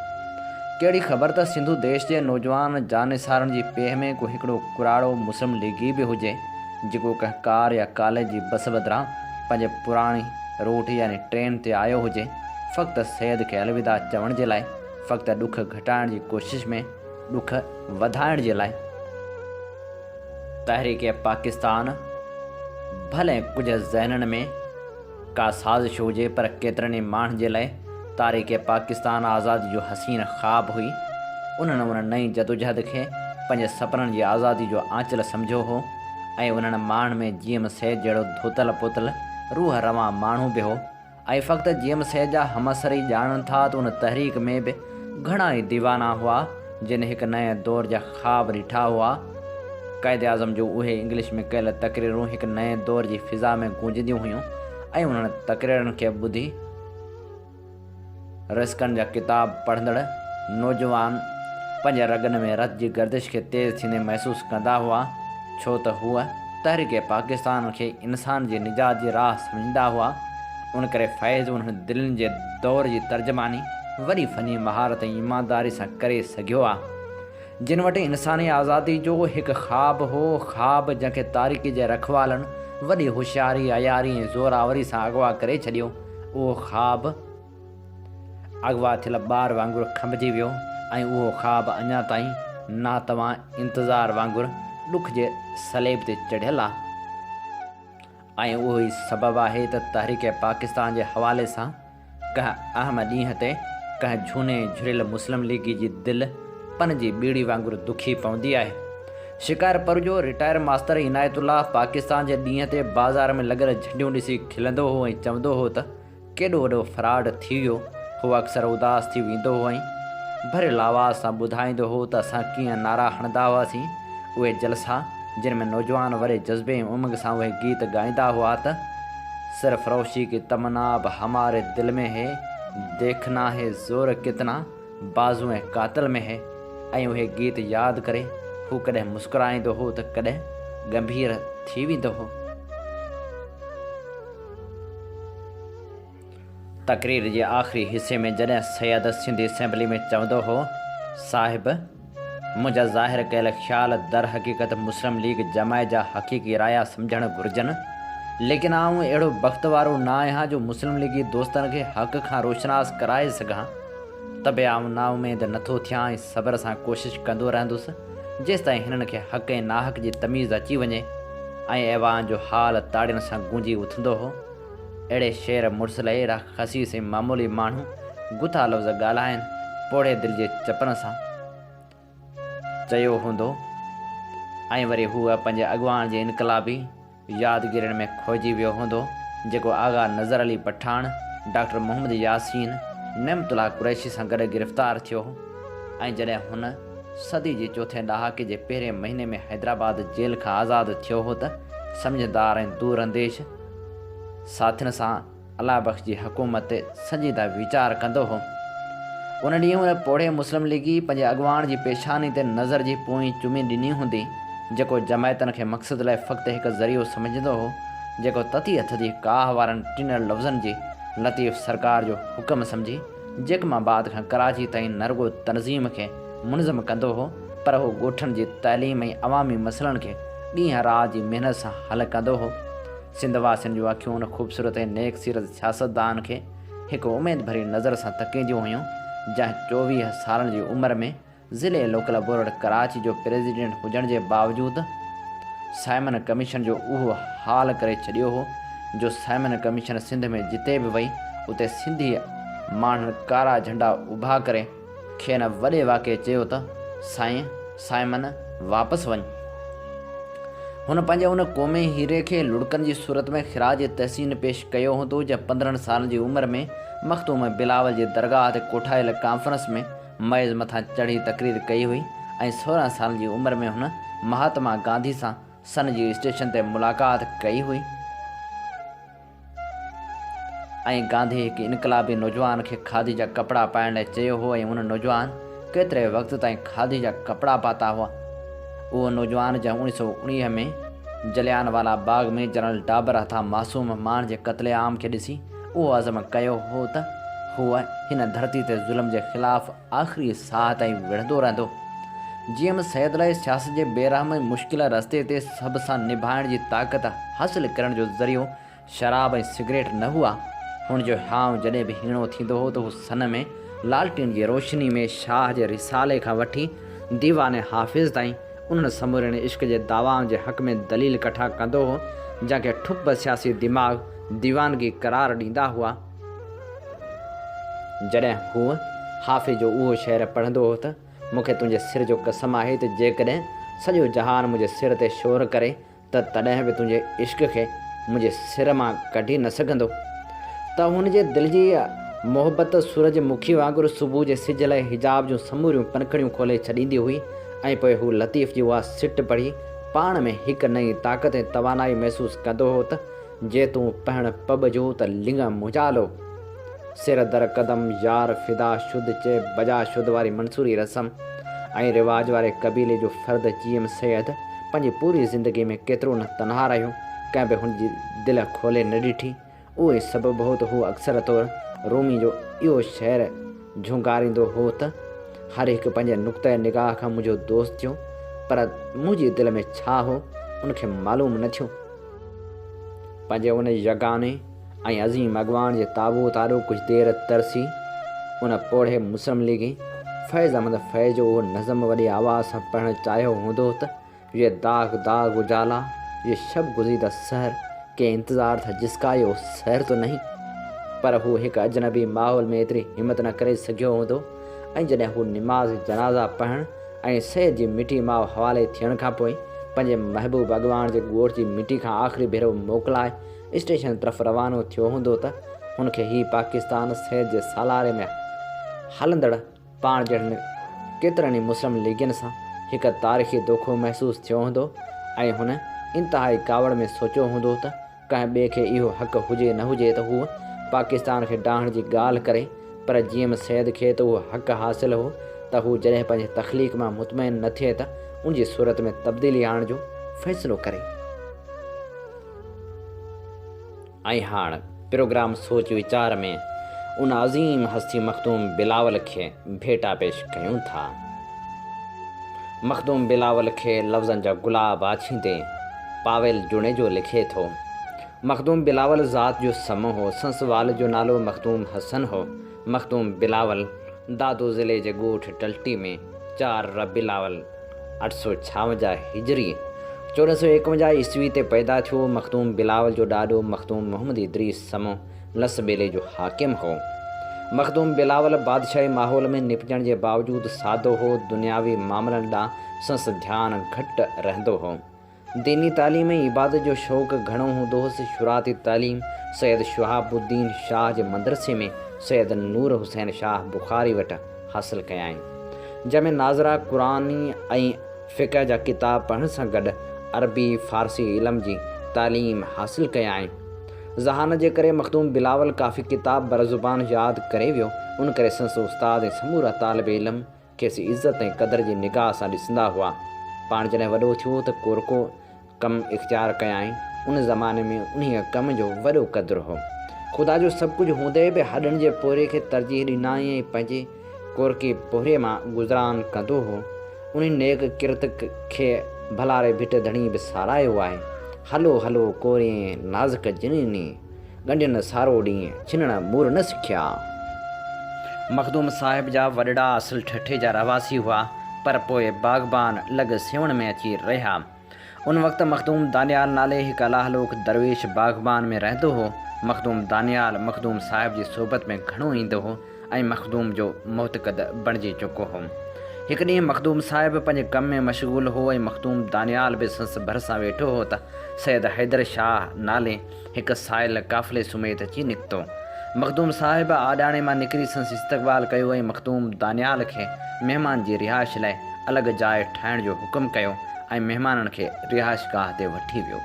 ڪهڙي خبر ته سنڌو ديش جي نوجوان جانسارن جي پيهه ۾ ڪو هڪڙو ڪراڙو مسلم ليگي به هجي جيڪو ڪنهن ڪار يا ڪاليج جي بس بدران پنهنجي پراڻي روٽ يعني ٽرين تي آيو هجي، فقط سيد کي الوداع چوڻ جي لاء، فقط ڏک گهٽائڻ جي ڪوشش ۾ ڏک وڌائڻ جي لاء. تحريڪ پاڪستان ڀلي ڪجهه ذهنن ۾ ڪا سازش هجي پر ڪيترن ئي ماڻهن جي لاء تاريخ پاڪستان آزادي جو حسين خواب هئي، انهن ان نئين جدوجهد کي پنهنجي سپنن جي آزادي جو آنچل سمجهيو هو. ۽ انهن ماڻهن ۾ جي ايم سيد جهڙو ڌوتل پوتل روح روان ماڻهو به هو ۽ فقط جي ايم سيد جا همعصر ئي ڄاڻن ٿا ته ان تحريڪ ۾ به گهڻا ئي ديوانا هئا جن هڪ نئين دور جا خواب رٺا هئا. قائداعظم جون اهي انگلش ۾ ڪيل تقريرون هڪ نئين دور جي فضا ۾ گونجنديون هيون ۽ انهن تقريرن کي ٻڌي، رسڪن جا ڪتاب پڙهندڙ نوجوان پنهنجي رڳن ۾ رت جي گردش کي تيز ٿيندي محسوس ڪندا هئا، ڇو ته هو تحريڪ پاڪستان کي انسان جي نجات جي راهه سمجهندا هئا، ان ڪري فيض انهن دلين جي دور جي ترجماني وڏي فني مهارت ۽ ايمانداري سان ڪري سگهيو آ، جن وٽ انساني آزادي جو هڪ خواب هو، خواب جنهن کي تاريڪي جي رکوالن وڏي هوشياري، عياري ۽ زورآوري سان اغوا ڪري ڇڏيو. اهو خواب اغوا ٿيل ٻار وانگر کنڀجي ويو ۽ اهو خواب اڃا تائين ناتوان انتظار وانگر ڏک جي صليب تي چڙهيل آهي ۽ اهو ئي سبب آهي ته تحريڪ پاڪستان جي حوالي سان ڪنهن اهم ڏينهن تي ڪنهن جهوني جهريل مسلم ليگي جي دل پن جي ٻيڙي وانگر دکي پوندي آهي. شڪارپور جو رٽائر ماستر عنايت الله پاڪستان جي ڏينهن تي بازار ۾ لڳل جهنڊيون ڏسي کلندو هو ۽ چوندو هو ته ڪيڏو وڏو فراڊ ٿي ويو. هو اڪثر اداس ٿي ويندو هو ۽ ڀريل آواز سان ٻڌائيندو هو ته اسان ڪيئن نعرا هڻندا هئاسين. اهي جلسا جن ۾ نوجوان وڏي جذبي ۽ امنگ سان اهي گيت ڳائيندا هئا ته، سرفروشي ڪي تمنا اب هماري دل ۾ هي، ديکنا هي زور ڪتنا. بازوء قاتل ۾ هي ۽ اهي گيت ياد ڪري هو ڪڏهن مسڪرائيندو هو ته ڪڏهن ڳنڀير ٿي ويندو هو. تقرير جي آخري حصي ۾ جڏهن سيد سنڌي اسيمبلي ۾ چوندو هو، صاحب! منهنجا ظاهر ڪيل خيال در حقيقت مسلم ليگ جماعت جا حقيقي رايا سمجهڻ گهرجن، ليڪن آئون اهڙو بخت وارو نه آهيان جو مسلم ليگي دوستن کي حق کان روشناس ڪرائي سگهان، ته به آئون نااميد نه ٿو ٿيان ۽ صبر سان ڪوشش ڪندو رهندس، جيستائين هنن کي حق ۽ ناحق جي تميز اچي وڃي ۽ ايوان جو هال تاڙين سان گونجي اٿندو هو. اهڙي شعر مڙس لئي اهڙا خسيس ۽ معمولي ماڻهو گٿا لفظ ڳالهائين پوڙهي دل جي چپن سان چيو هوندو ۽ وري هو پنهنجي اڳواڻ جي انقلابي يادگيرين ۾ کوئجي ويو هوندو جيڪو آغا نظر علي پٺاڻ، ڊاڪٽر محمد ياسين، نعمت الله قريشي سان گڏ گرفتار ٿيو هو ۽ جڏهن هن صدي جي چوٿين ڏهاڪي جي پهرين مهيني ۾ حيدرآباد جيل کان آزاد ٿيو هو ته سمجهدار ۽ دورانديش ساٿين سان الله بخش جي حڪومت تي سنجيده ويچار ڪندو هو. ان ڏينهن ان پوڙهي مسلم ليگي پنهنجي اڳواڻ جي پيشاني تي نظر جي پونئين چمي ڏني هوندي، جيڪو جماعتن کي مقصد لاء فقط هڪ ذريعو سمجهندو هو، جيڪو تتي هٿ جي ڪاهه وارن ٽنڙ لفظن جي لطيف سرڪار جو حڪم سمجهي، جيڪم آباد کان ڪراچي تائين نه رڳو تنظيم کي منظم ڪندو هو پر هو ڳوٺن جي تعليم ۽ عوامي مسئلن کي ڏينهن رات جي محنت سان حل ڪندو هو. سنڌ واسين جون اکيون ان خوبصورت ۽ نيڪ سيرت سياستدان کي هڪ اميد ڀري نظر سان تڪينديون هيون جنهن چوويهه سالن جي عمر ۾ ضلعي لوڪل بورڊ ڪراچي جو پريزيڊنٽ هجڻ جي باوجود سائمن ڪميشن جو اهو حال ڪري ڇڏيو هو جو سائمن ڪميشن سنڌ ۾ جتي به وئي اتي سنڌي ماڻهن ڪارا جهنڊا اڀا ڪري کين وڏي واڪي چيو ته سائين سائمن واپس وڃ هن پنهنجي ان قومي هيري کي لڙڪن جي صورت ۾ خراج تحسين پيش ڪيو هوندو جنهن پندرهن سالن جي عمر ۾ مخدوم بلاول جي درگاهه تي ڪوٺايل ڪانفرنس ۾ ميز مٿان چڙهي تقرير ڪئي هئي ۽ سورهن سالن جي عمر ۾ هن مهاتما گانڌي سان سن جي اسٽيشن تي ملاقات ڪئي هئي ۽ گانڌي هڪ انقلابي نوجوان کي کاڌي جا ڪپڙا پائڻ لاء چيو هو ۽ ان نوجوان ڪيتري وقت تائين کاڌي جا ڪپڙا پاتا هئا اهو نوجوان جنهن اڻيهه سؤ اڻيهه ۾ جليان والا باغ ۾ جنرل ڊابر هٿان معصوم ماڻهن جي قتل عام کي ڏسي اهو عزم ڪيو هو ته هو هن ڌرتي تي ظلم جي خلاف آخري ساهه تائين وڙهندو رهندو. جي ايم سيد لاء سياست جي بي رحم ۽ مشڪل رستي تي سڀ سان نڀائڻ جي طاقت حاصل ڪرڻ جو ذريعو شراب ۽ سگريٽ نه هئا. هن جو هيانء جڏهن به هيڻو ٿيندو هو ته هو سن ۾ لالٽين جي روشني ۾ شاهه جي رسالي کان وٺي ديوان حافظ تائين انهن سمورين عشق جي دعوائن جي حق ۾ دليل ڪٺا ڪندو هو جنهن کي ٺپ سياسي دماغ ديوانگي قرار ڏيندا هئا. جڏهن هو حافظ جو اهو شعر پڙهندو هو ته، مون کي تنهنجي سر جو قسم آهي ته جيڪڏهن سڄو جهان منهنجي سر تي شور ڪري ته تڏهن به تنهنجي عشق کي منهنجي سر مان ڪڍي نه سگهندو. ته هن جي دل جي اها محبت سورج مکي وانگر صبح جي سج لاء حجاب جون سموريون پنکڙيون کولي ڇڏيندي هئي ۽ پوء هو لطيف جي اها سٽ پڙهي پاڻ ۾ هڪ نئين طاقت ۽ توانائي محسوس ڪندو هو ته، جي تون پهڻ پٻ جو ته لڱ منجهالو. سر در قدم يار فدا شد چئي بجا شد واري منصوري رسم ۽ رواج واري قبيلي جو فرد جي ايم سيد پنهنجي پوري زندگي ۾ ڪيترو نه تنها رهيو، ڪنهن به هن جي دل کولي نه ڏٺي. اهو ئي سبب هو ته هو اڪثر طور رومي جو اهو شعر جهونگاريندو هو ته، هر هڪ پنهنجي نقطه نگاهه کان منهنجو دوست ٿيو، پر منهنجي دل ۾ ڇا هو، ان کي معلوم نه ٿيو. پنهنجي ان يگاني ۽ عظيم اڳواڻ جي تابوت آڏو ڪجهه دير ترسي، ان پوڙهي مسلم ليگي فيض احمد فيض جو اهو نظم وڏي آواز سان پڙهڻ چاهيو هوندو ته، يي داغ داغ اجالا، يي شب گزيده سحر، ڪي انتظار ٿا جس ڪا يي سحر تو نهين. پر هو هڪ اجنبي ماحول ۾ ايتري همت نه ڪري سگهيو هوندو ۽ جڏهن هو نماز جنازه پڙهڻ ۽ سيد جي مٺي ماء حوالي ٿيڻ کان پوء پنهنجي محبوب اڳواڻ جي ڳوٺ جي مٽي کان آخري ڀيرو موڪلائي اسٽيشن طرف روانو ٿيو هوندو ته هن کي هي پاڪستان سيد جي سالاري ۾ هلندڙ پاڻ جهڙن ڪيترن ئي مسلم ليگين سان هڪ تاريخي دوکو محسوس ٿيو هوندو ۽ هن انتهائي ڪاوڙ ۾ سوچيو هوندو ته ڪنهن ٻئي کي اهو حق هجي نه هجي ته هو پاڪستان کي ڊاهڻ جي ڳالهه ڪري پر جي ايم سيد کي ته اهو حق حاصل هو ته هو جڏهن پنهنجي تخليق مان مطمئن نه ٿئي ته ان جي صورت ۾ تبديلي آڻڻ جو فيصلو ڪري. ۽ هاڻ پروگرام سوچ ويچار ۾ ان عظيم هستي مخدوم بلاول کي ڀيٽا پيش ڪيون ٿا. مخدوم بلاول کي لفظن جا گلاب آڇيندي پاويل جوڻيجو لکي ٿو، مخدوم بلاول ذات جو سمو هو، سنس وال جو نالو مخدوم حسن هو، مخدوم بلاول دادو ضلعي جي ڳوٺ ٽلٽي ۾ چار ربيع الاول اٺ سؤ ڇاونجاهه هجري، چوڏهن سؤ ايڪونجاهه عيسوي تي پيدا ٿيو، مخدوم بلاول جو ڏاڏو مخدوم محمد ادريس سمو لس ٻيلي جو حاڪم هو. مخدوم بلاول بادشاهي ماحول ۾ نپجڻ جي باوجود سادو هو، دنياوي معاملن ڏانهن سنس ڌيان گهٽ رهندو هو. ديني تعليم ۽ عبادت جو شوق گهڻو هوندو هوس. شروعاتي تعليم سيد شهاب الدين شاهه جي مدرسي ۾ سيد نور حسين شاهه بخاري وٽ حاصل ڪيائين. جنهن ۾ ناظره قرآني ۽ فقه جا ڪتاب پڙهڻ سان گڏ عربي، فارسي علم جي تعليم حاصل ڪيائين. ذهان جي ڪري مخدوم بلاول ڪافي ڪتاب برزبان ياد ڪري ويو، ان ڪري سندس استاد ۽ سمورا طالب علم کيس عزت ۽ قدر جي نگاهه سان ڏسندا هئا. پاڻ جڏهن وڏو ٿيو ته ڪورڪو ڪم اختيار ڪيائين. ان زماني ۾ انهيء ڪم جو وڏو قدر هو. خدا جو سڀ ڪجهه هوندي به هڏن جي پورهيي کي ترجيح ڏنائين ۽ پنهنجي ڪورڪي پوري مان گذران ڪندو هو، انهي نيڪ ڪرت کي ڀلاري ڀٽ ڌڻي به ساراهيو آهي. هلو هلو ڪورين نازڪ جنيني، ڳنڍين سارو ڏينهن، ڇنڻ مور نه سکيا. مخدوم صاحب جا وڏڙا اصل ٺٽي جا رهواسي هئا، پر پوء باغبان لڳ سيوهڻ ۾ اچي رهيا. ان وقت مخدوم دانيال نالي هڪ الاهلوڪ درويش باغبان ۾ رهندو هو. مخدوم دانيال مخدوم صاحب جي صحبت ۾ گهڻو ايندو هو ۽ مخدوم جو معتقد بڻجي چڪو هو. هڪ ڏينهن مخدوم صاحب پنهنجي ڪم ۾ مشغول هو ۽ مخدوم دانيال به سنس ڀرسان ويٺو هو ته سيد حيدر شاهه نالي هڪ سائل قافلي سميت اچي نڪتو. مخدوم صاحب آڏاڻي مان نڪري سندس استقبال ڪيو ۽ مخدوم دانيال کي مهمان جي رهائش لاء الڳ جاء ٺاهڻ جو حڪم ڪيو ۽ مهمانن کي رهائشگاهه تي وٺي ويو.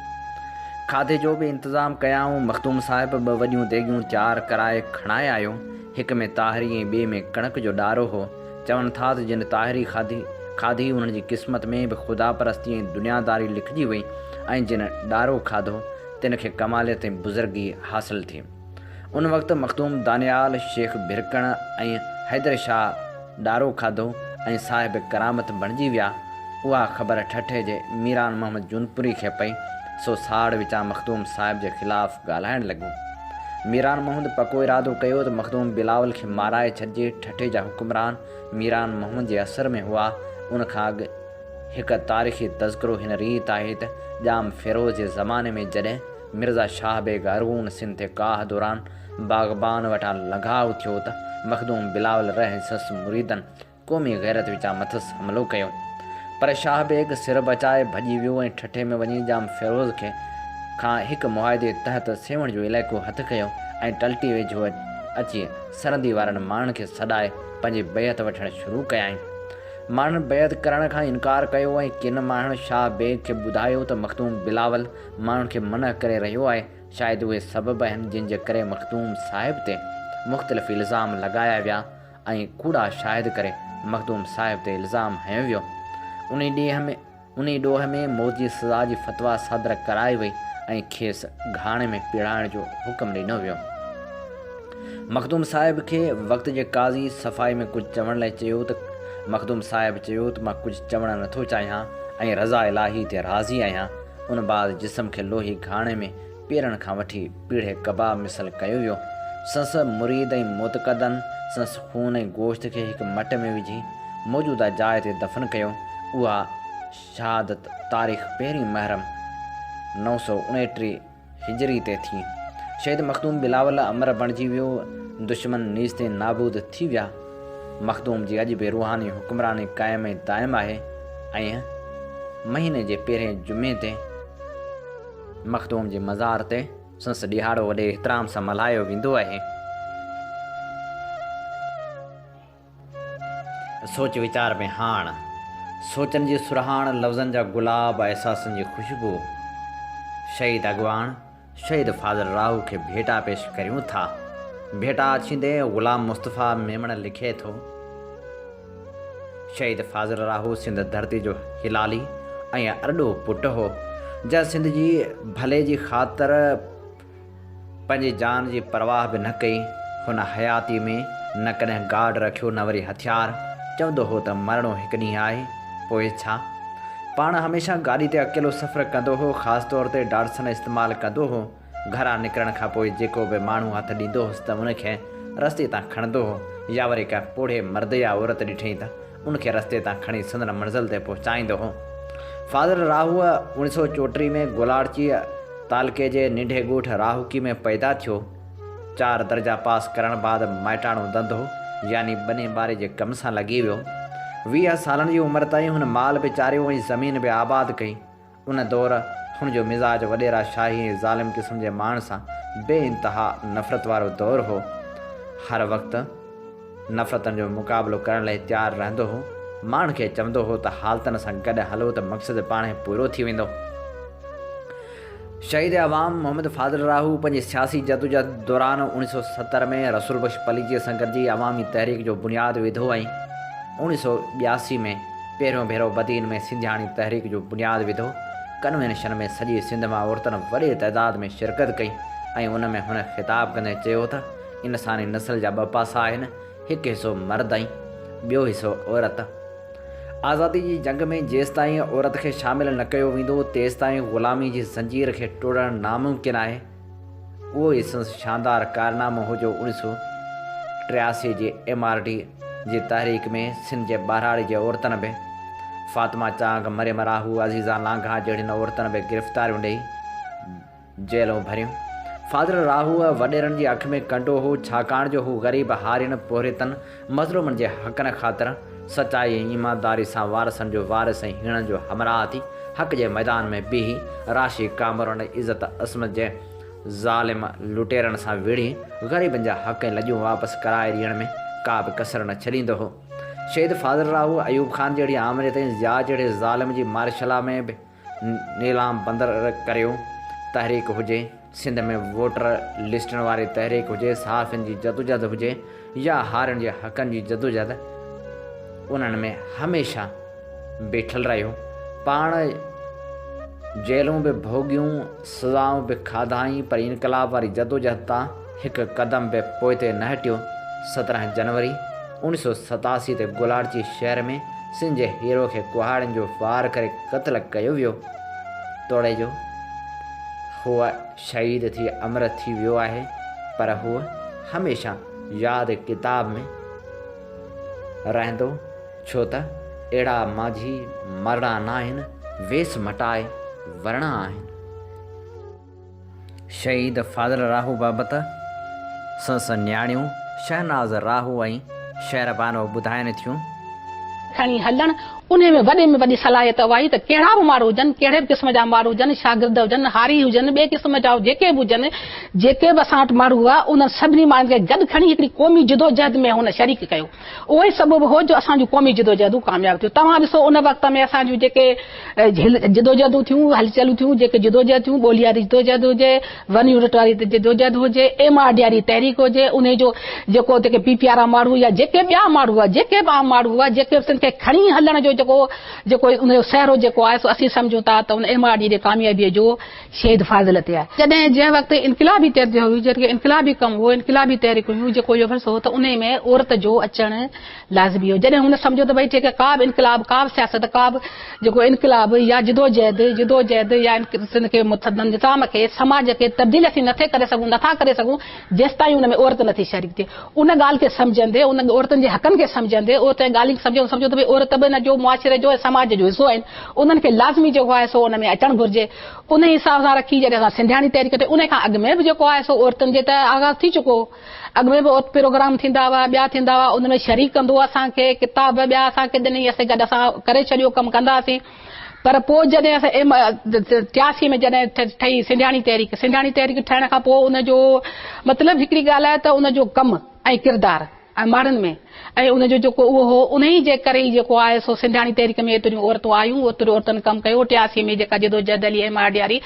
کاڌي جو به انتظام ڪيائون. مخدوم صاحب ٻه وڏيون ديڳيون تيار ڪرائي کڻائي آيو. هڪ ۾ تاهري ۽ ٻئي ۾ ڪڻڪ جو ڏارو هو. چون ٿا ته جن طاهري کاڌي کاڌي انهن جي قسمت ۾ به خداپرستي ۽ دنياداري لکجي وئي ۽ جن ڏارو کاڌو تن کي ڪماليت ۽ بزرگي حاصل ٿي. ان وقت مخدوم دانيال، شيخ ڀرڪڻ ۽ حيدر شاهه ڏارو کاڌو ۽ صاحب ڪرامت بڻجي ويا. اها خبر ٺٽي جي ميران محمد جونپوري کي پئي سو ساڙ وچان مخدوم صاحب جي خلاف ڳالهائڻ لڳو. ميران محمد پڪو ارادو ڪيو ته مخدوم بلاول کي مارائي ڇڏجي. ٺٽي جا حڪمران ميران محمد جي اثر ۾ هئا. ان کان اڳ هڪ تاريخي تذڪرو هن ريت آهي ته، ڄام فيروز جي زماني ۾ جڏهن مرزا شاهه بيگ ارغون سنڌ تي ڪاهه دوران باغبان وٽان لنگهاء ٿيو ته مخدوم بلاول رحه سس مريدن قومي غيرت وچان مٿس حملو ڪيو پر شاهه بيگ سر بچائي ڀڄي ويو ۽ ٺٽي ۾ وڃي ڄام فيروز کي کان هڪ معاهدي تحت سيوهڻ جو علائقو هٿ ڪيو ۽ ٽلٽي ويجهو اچي سرحدي وارن ماڻهن کي سڏائي پنهنجي بيعت وٺڻ شروع ڪيائين. ماڻهن بيعت ڪرڻ کان انڪار ڪيو ۽ ڪن ماڻهن شاهه بيگ کي ٻڌايو ته مخدوم بلاول ماڻهن کي منع ڪري رهيو آهي. شايد اهي سبب آهن جن جي ڪري مخدوم صاحب تي مختلف الزام لڳايا ويا ۽ ڪوڙا شاهد ڪري مخدوم صاحب تي الزام هنيو ويو. انهي ڏينهن ۾. انهي ڏوهه ۾ موت جي سزا جي فتويٰ صادر ڪرائي وئي ۽ کيس گهاڻي ۾ پيڙائڻ جو حڪم ڏنو ويو. مخدوم صاحب کي وقت جي قاضي صفائي ۾ ڪجهه چوڻ لاء چيو ته مخدوم صاحب چيو ته مان ڪجهه چوڻ نٿو چاهيان ۽ رضا الاهي تي راضي آهيان. ان بعد جسم کي لوهي گهاڻي ۾ پيرن کان وٺي پيڙهي ڪباب مثل ڪيو ويو. سنس مريد ۽ معتقدن سنس خون ۽ گوشت کي هڪ مٽ ۾ وجهي موجوده جاء تي دفن ڪيو. اها شهادت تاريخ پهرين محرم نو سؤ اڻٽيهه هجري تي ٿي. شهيد مخدوم بلاول امر بڻجي ويو، دشمن نيستين نابود ٿي ويا. مخدوم جي اڄ به روحاني حڪمراني قائم ۽ دائم آهي ۽ مهيني جي پهرين جمعي تي، مخدوم جي مزار تي سنس ڏهاڙو وڏي احترام سان ملهايو ويندو آهي. سوچ ويچار ۾ هاڻ سوچن جي سرهاڻ، لفظن جا گلاب، احساسن جي خوشبو شهيد اڳواڻ شهيد فاضل راهو کي ڀيٽا پيش ڪريون ٿا. ڀيٽا اڇيندي غلام مصطفيٰ ميمڻ لکي ٿو. شهيد فاضل راهو سنڌ ڌرتي جو هلالي ۽ ارڏو پٽ هو، جنهن سنڌ جي ڀلي جي خاطر پنهنجي جان جي پرواهه به نه ڪئي. هن حياتيء ۾ نه ڪڏهن گارڊ رکيو نه وري هٿيار، چوندو هو ته مرڻو هڪ ڏينهن آهي، پوء ڇا؟ پاڻ هميشه گاڏي تي اڪيلو سفر ڪندو هو، خاص طور تي ڊاٽسن استعمال ڪندو هو. گهران نڪرڻ کان پوء جيڪو به ماڻهو هٿ ڏيندو هوس ته ان کي رستي تان کڻندو هو يا وري ڪا پوڙهي مرد يا عورت ڏٺئين ته ان کي رستي تان کڻي سندن منزل تي پهچائيندو هو. فاضل راهوء اوڻي سؤ چوٽيهه ۾ گولاڙچيء تعلقي جي ننڍي ڳوٺ راهوڪي ۾ پيدا ٿيو. چار درجا پاس ڪرڻ بعد مائٽاڻو ڌنڌو يعني ٻني ٻاري جي ڪم سان لڳي ويو. ويهه سالن جي عمر تائين هن مال به چاريو ۽ زمين به آباد ڪئي. ان دور هن جو مزاج وڏيرا شاهي ۽ ظالم قسم جي ماڻهن سان بي انتها نفرت وارو دور هو. هر وقت نفرتن جو مقابلو ڪرڻ لئه تيار رهندو هو. ماڻهن کي چوندو هو ته حالتن سان گڏ هلو ته مقصد پاڻهي پورو ٿي ويندو. شهيد عوام محمد فاضل راهو پنهنجي سياسي جدوجهد دوران اوڻيهه سؤ ستر ۾ رسول بخش پليجيء سان گڏجي عوامي تحريڪ جو بنياد وڌو ۽ اوڻيهه سؤ ٻياسي ۾ پهريون ڀيرو بدين ۾ سنڌياڻي تحريڪ جو بنياد وڌو. ڪنوينشن ۾ سڄي سنڌ مان عورتن وڏي تعداد ۾ شرڪت ڪئي ۽ ان ۾ هن خطاب ڪندي چيو ته انساني نسل جا ٻه پاسا آهن، هڪ حصو مرد ۽ ٻيو حصو عورت. آزادي جي جنگ ۾ جيستائين عورت کي شامل نه ڪيو ويندو، تيستائين غلامي جي زنجير کي ٽوڙڻ ناممڪن آهي. اهو ئي سندس شاندار ڪارنامو هو جو اوڻيهه سؤ ٽياسي جي ايم آر ڊي جي تحريڪ ۾ سنڌ جي ٻهراڙي جي عورتن به فاطمه چانگ، مريم راهو، عزيزا لانگاهه جهڙين عورتن به گرفتاريون ڏئي جيلون ڀريون. فاضل راهوء وڏيرن جي اک ۾ ڪنڊو هو، ڇاڪاڻ جو هو غريب هارين پورهيتن، مظلومن جي حقن خاطر سچائي ۽ ايمانداري سان وارثن جو وارث ۽ هيڻن جو همراهه ٿي حق جي ميدان ۾ بيهي راشي ڪامرن عزت عصمت جي ظالم لٽيرن سان وڙهي غريبن جا حق ۽ لڄون واپس ڪرائي ڏيڻ ۾ ڪا به ڪسر نه ڇڏيندو هو شهيد فاضل راهو ايوب خان جهڙي آمريت ۽ ضياء جهڙي ظالم جي مارشلا ۾ به نيلام بندر ڪريو تحريڪ هجي، سنڌ ۾ ووٽر لسٽن واري تحريڪ هجي، صحافين جي جدوجهد هجي يا هارين جي حقن جي جدوجهد انهن ۾ هميشه بيٺل رهيو، پاڻ جيلون به ڀوڳيون، سزائون به کاڌائين پر انقلاب واري جدوجهد تان هڪ قدم به پوئتي نه هٽيو. سترهن جنوري اوڻيهه سؤ ستاسي تي گولاڙچي شهر ۾ سنڌ جي هيرو کي ڪهاڙين جو وار ڪري قتل ڪيو ويو. توڙي جو هو شهيد ٿي امر ٿي ويو آهي پر هو هميشه ياد ڪتاب ۾ رهندو ڇو ته اهڙا ماضي مرڻا ناهن، ويس مٽائي ورڻا آهن. شهيد فاضل راهو بابت سندس نياڻيون شهناز راهو ۽ شهر بانو ٻڌائين ٿيون. کڻي هلڻ، انهي ۾ وڏي ۾ وڏي صلاحيت اها آهي ته ڪهڙا به ماڻهو هجن، ڪهڙي به قسم جا ماڻهو هجن، شاگرد هجن، هاري هجن، ٻئي قسم جا جيڪي به هجن، جيڪي به اسان وٽ ماڻهو هئا، انهن سڀني ماڻهن کي گڏ کڻي هڪڙي قومي جدوجهد ۾ هن شريڪ ڪيو. اهو ئي سبب هو جو اسان جون قومي جدوجهدون ڪامياب ٿيون. توهان ڏسو ان وقت ۾ اسان جون جيڪي جدوجهدون ٿيون، هلچلون ٿيون، جيڪي جدوجهد ٿيون، ٻولي واري جدوجهد هجي، ون يونٽ واري جدوجهد هجي، ايم آر ڊي واري تحريڪ هجي، انهي جو جيڪو جيڪي پي پي آر وارا ماڻهو يا جيڪي ٻيا ماڻهو هئا، جيڪي به عام ماڻهو هئا، جيڪي به تن کي کڻي هلڻ جو جيڪو جيڪو ان جو سهرو جيڪو آهي سو اسين سمجهون ٿا ته ان ايم آر ڊي جي ڪاميابيء جو شهيد فاضل تي آهي. جڏهن جنهن وقت انقلابي تحريڪ جو هيو جيڪي انقلابي ڪم هو انقلابي تحريڪ هيون جيڪو اهو فلسفو هو ته انهي ۾ عورت جو اچڻ لازمي هو جڏهن هن سمجهيو ته ڀئي جيڪي ڪا به انقلاب ڪا به سياست ڪا به جيڪو انقلاب يا جدوجهد جدوجهد يا سنڌ کي نظام کي سماج کي تبديل اسين نٿي ڪري سگهون نٿا ڪري سگهون جيستائين ان ۾ عورت نٿي شريڪ ٿئي ان ڳالهه کي سمجهندي ان عورتن جي حقن کي سمجهندي عورت جي ڳالهين کي سمجهندي سمجهو ته ڀئي عورت به ان جو معاشري جو ۽ سماج جو حصو آهن انهن کي لازمي جيڪو آهي سو ان ۾ اچڻ گهرجي انهي حساب سان رکي جڏهن اسان سنڌياڻي تحريڪ ٺهي انهي کان اڳ ۾ به جيڪو آهي سو عورتن جي ته آغاز ٿي چڪو هو اڳ ۾ به عورت پروگرام ٿيندا هئا ٻيا ٿيندا هئا ان ۾ شريڪ ڪندو اسان کي ڪتاب ٻيا اسان کي ڏني اسين گڏ اسان ڪري ڇڏيو ڪم ڪنداسين. پر پوء جڏهن اسان ايم. ٽياسي ۾ جڏهن ٺهي سنڌياڻي تحريڪ، سنڌياڻي تحريڪ ٺهڻ کان پوء ان جو مطلب هڪڙي ڳالهه آهي ته ان جو ڪم ۽ ڪردار ۽ ماڻهن ۾ ۽ ان جو جيڪو اهو هو انهي جي ڪري ئي جيڪو آهي سو سنڌياڻي تحريڪ ۾ ايتريون عورتون آيون، ايتريون عورتن ڪم ڪيو، ٽياسي ۾ جيڪا جدوجهد هلي ايم. آر. ڊي واري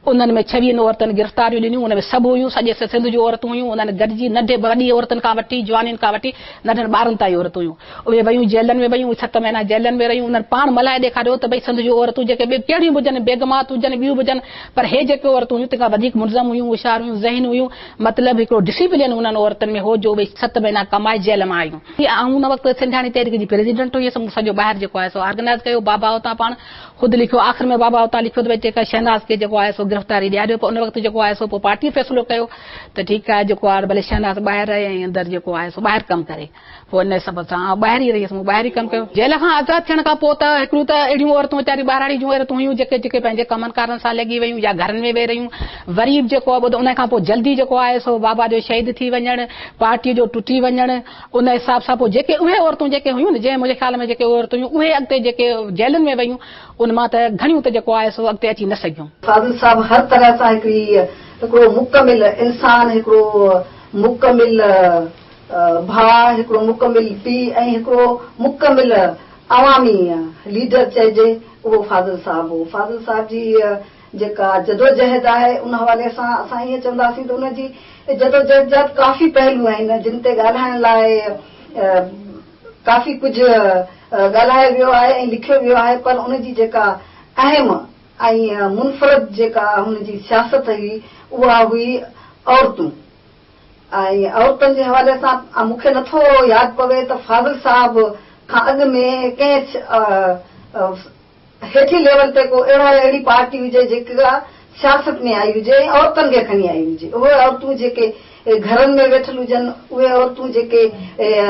انهن ۾ ڇويهن عورتن گرفتاريون ڏنيون، ان ۾ سڀ هيون سڄي سنڌ جون عورتون هيون، انهن گڏجي ننڍي وڏي عورتن کان وٺي جوانين کان وٺي ننڍن ٻارن تائين عورتون هيون. اهي ويون جيلن ۾ ويون، ست مهينا جيلن ۾ رهيون، انهن پاڻ ملهائي ڏيکاريو ته ڀئي سنڌ جون عورتون جيڪي ٻيون ڪهڙيون به هجن، بيگمات هجن، ٻيون به هجن، پر هي جيڪي عورتون هيون، تن کان وڌيڪ منظم هيون، هوشيار هيون، ذهين هيون، مطلب هڪڙو ڊسيپلين انهن عورتن ۾ هو جو اهي ست مهينا ڪمائي جيل مان آيون. آئون ان وقت سنڌياڻي تحريڪ جي پريزيڊنٽ هيس، مون سڄو ٻاهر جيڪو آهي سو آرگنائيز ڪيو، بابا اتان پاڻ خود لکيو، آخر ۾ بابا اتان لکيو ته ڀئي ٺيڪ آهي شهناز کي جيڪو آهي سو گرفتاري ڏياريو، پر ان وقت جيڪو آهي سو پوء پارٽيء فيصلو ڪيو ته ٺيڪ آهي جيڪو آهي ڀلي شهناز ٻاهر رهي ۽ اندر جيڪو آهي سو ٻاهر ڪم ڪري. پوء ان سبب سان آئون ٻاهر ئي رهي هيس. مون ٻاهر ئي ڪم ڪيو. جيل کان آزاد ٿيڻ کان پوء ته هڪڙيون ته اهڙيون عورتون ويچاريون ٻهراڙي جون عورتون هيون جيڪي جيڪي پنهنجي ڪمن ڪارن سان لڳي ويون يا گهرن ۾ ويهي رهيون. وريب جيڪو ٻڌو ان کان پوء جلدي جيڪو آيو سو بابا جو شهيد ٿي وڃڻ، پارٽيء جو ٽٽي وڃڻ، ان حساب سان پوء جيڪي اهي عورتون جيڪي هيون نه جنهن منهنجي خيال ۾ جيڪي اهي عورتون هيون اهي اڳتي جيڪي جيلن ۾ ويون ان مان ته گهڻيون ته جيڪو آهي سو اڳتي اچي نه سگهيون. فاضل صاحب هر طرح سان هڪڙي هڪڙو مڪمل انسان هڪڙو مڪمل. ڀاء، هڪڙو مڪمل پيء ۽ هڪڙو مڪمل عوامي ليڊر چئجي اهو فاضل صاحب هو. فاضل صاحب جي هيء جيڪا جدوجهد آهي ان حوالي سان اسان ائين چونداسين ته ان جي جدوجهد جا به ڪافي پهلو آهن جن تي ڳالهائڻ لاء ڪافي ڪجهه ڳالهايو ويو آهي ۽ لکيو ويو آهي پر ان جي جيڪا اهم ۽ منفرد جيڪا هن جي سياست هئي اها هئي عورتون. ۽ عورتن جي حوالي سان مون کي نه ٿو ياد پوي ته فاضل صاحب کان اڳ ۾ ڪنهن هيٺين ليول تي ڪو اهڙا يا اهڙي پارٽي هجي جيڪا سياست ۾ آئي هجي ۽ عورتن کي کڻي آئي هجي. اهي عورتون جيڪي گهرن ۾ ويٺل هجن، اهي عورتون جيڪي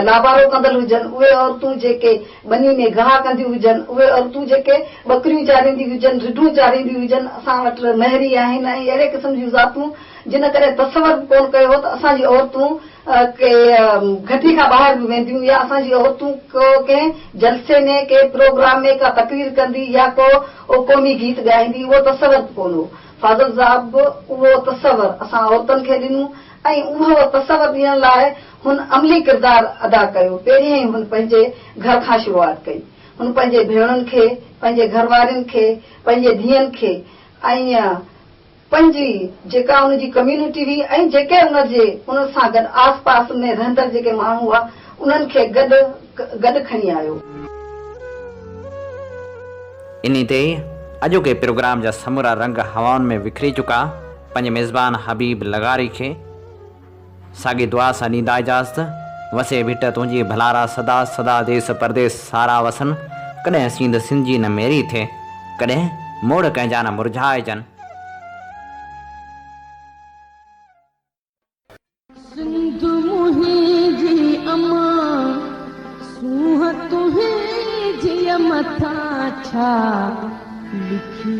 لابارو ڪندل هجن، اهي عورتون جيڪي ٻني ۾ گاهه ڪنديون هجن، اهي عورتون جيڪي ٻڪريون چارينديون هجن، رڍون چارينديون هجن، اسان وٽ مهري آهن ۽ اهڙي قسم جون ذاتون جنھن ڪڏھن تصور به ڪون ڪيو ھو ته اسان جي عورتون ڪي گھٽي کان ٻاھر به وينديون يا اسان جي عورتون ڪو ڪنھن جلسي ۾ ڪي پروگرام ۾ ڪا تقرير ڪندي يا ڪو قومي گيت ڳائيندي اھو تصور به ڪون ھو فاضل صاحب به اھو تصور اسان عورتن کي ڏنو ۽ اھو تصور ڏيڻ لاء ھن عملي ڪردار ادا ڪيو پهريائين ھن پنھنجي گھر کان شروعات ڪئي ھن پنھنجي ڀيڻن کي پنھنجي گھر وارين کي پنھنجي ڌيئن کي ۽ پنهنجي، جيڪا ان جي ڪميونٽي هئي ۽ جيڪي ان جي ان سان گڏ آس پاس ۾ رهندڙ جيڪي ماڻهو هئا انهن کي گڏ گڏ کڻي آيو. انهي تي اڄوڪي پروگرام جا سمورا رنگ هوائن ۾ وکري چڪا، پنهنجي ميزبان حبيب لغاري کي. ساڳي دعا سان ڏيندا اجازت، وسي ڀٽ تنهنجي ڀلارا سدا سدا ديس پرديس سارا وسن، ڪڏهن سينڌ سنڌ جي نه ميري ٿئي، ڪڏهن موڙ ڪنهن جا نه مرجهائجن. سنڌ منهنجي امان، سونهن تنهنجيء مٿان ڇا لکي.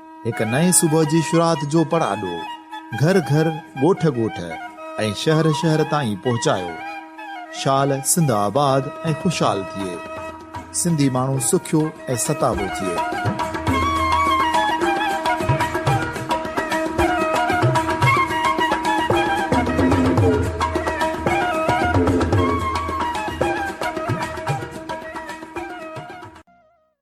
هڪ نئين صبح جي شروعات جو پڙاڏو گهر گهر، ڳوٺ ڳوٺ ۽ شهر شهر تائين پهچايو. شال سنڌ آباد ۽ خوشحال ٿئي. سنڌي ماڻهو سکيو ۽ ستابو ٿئي.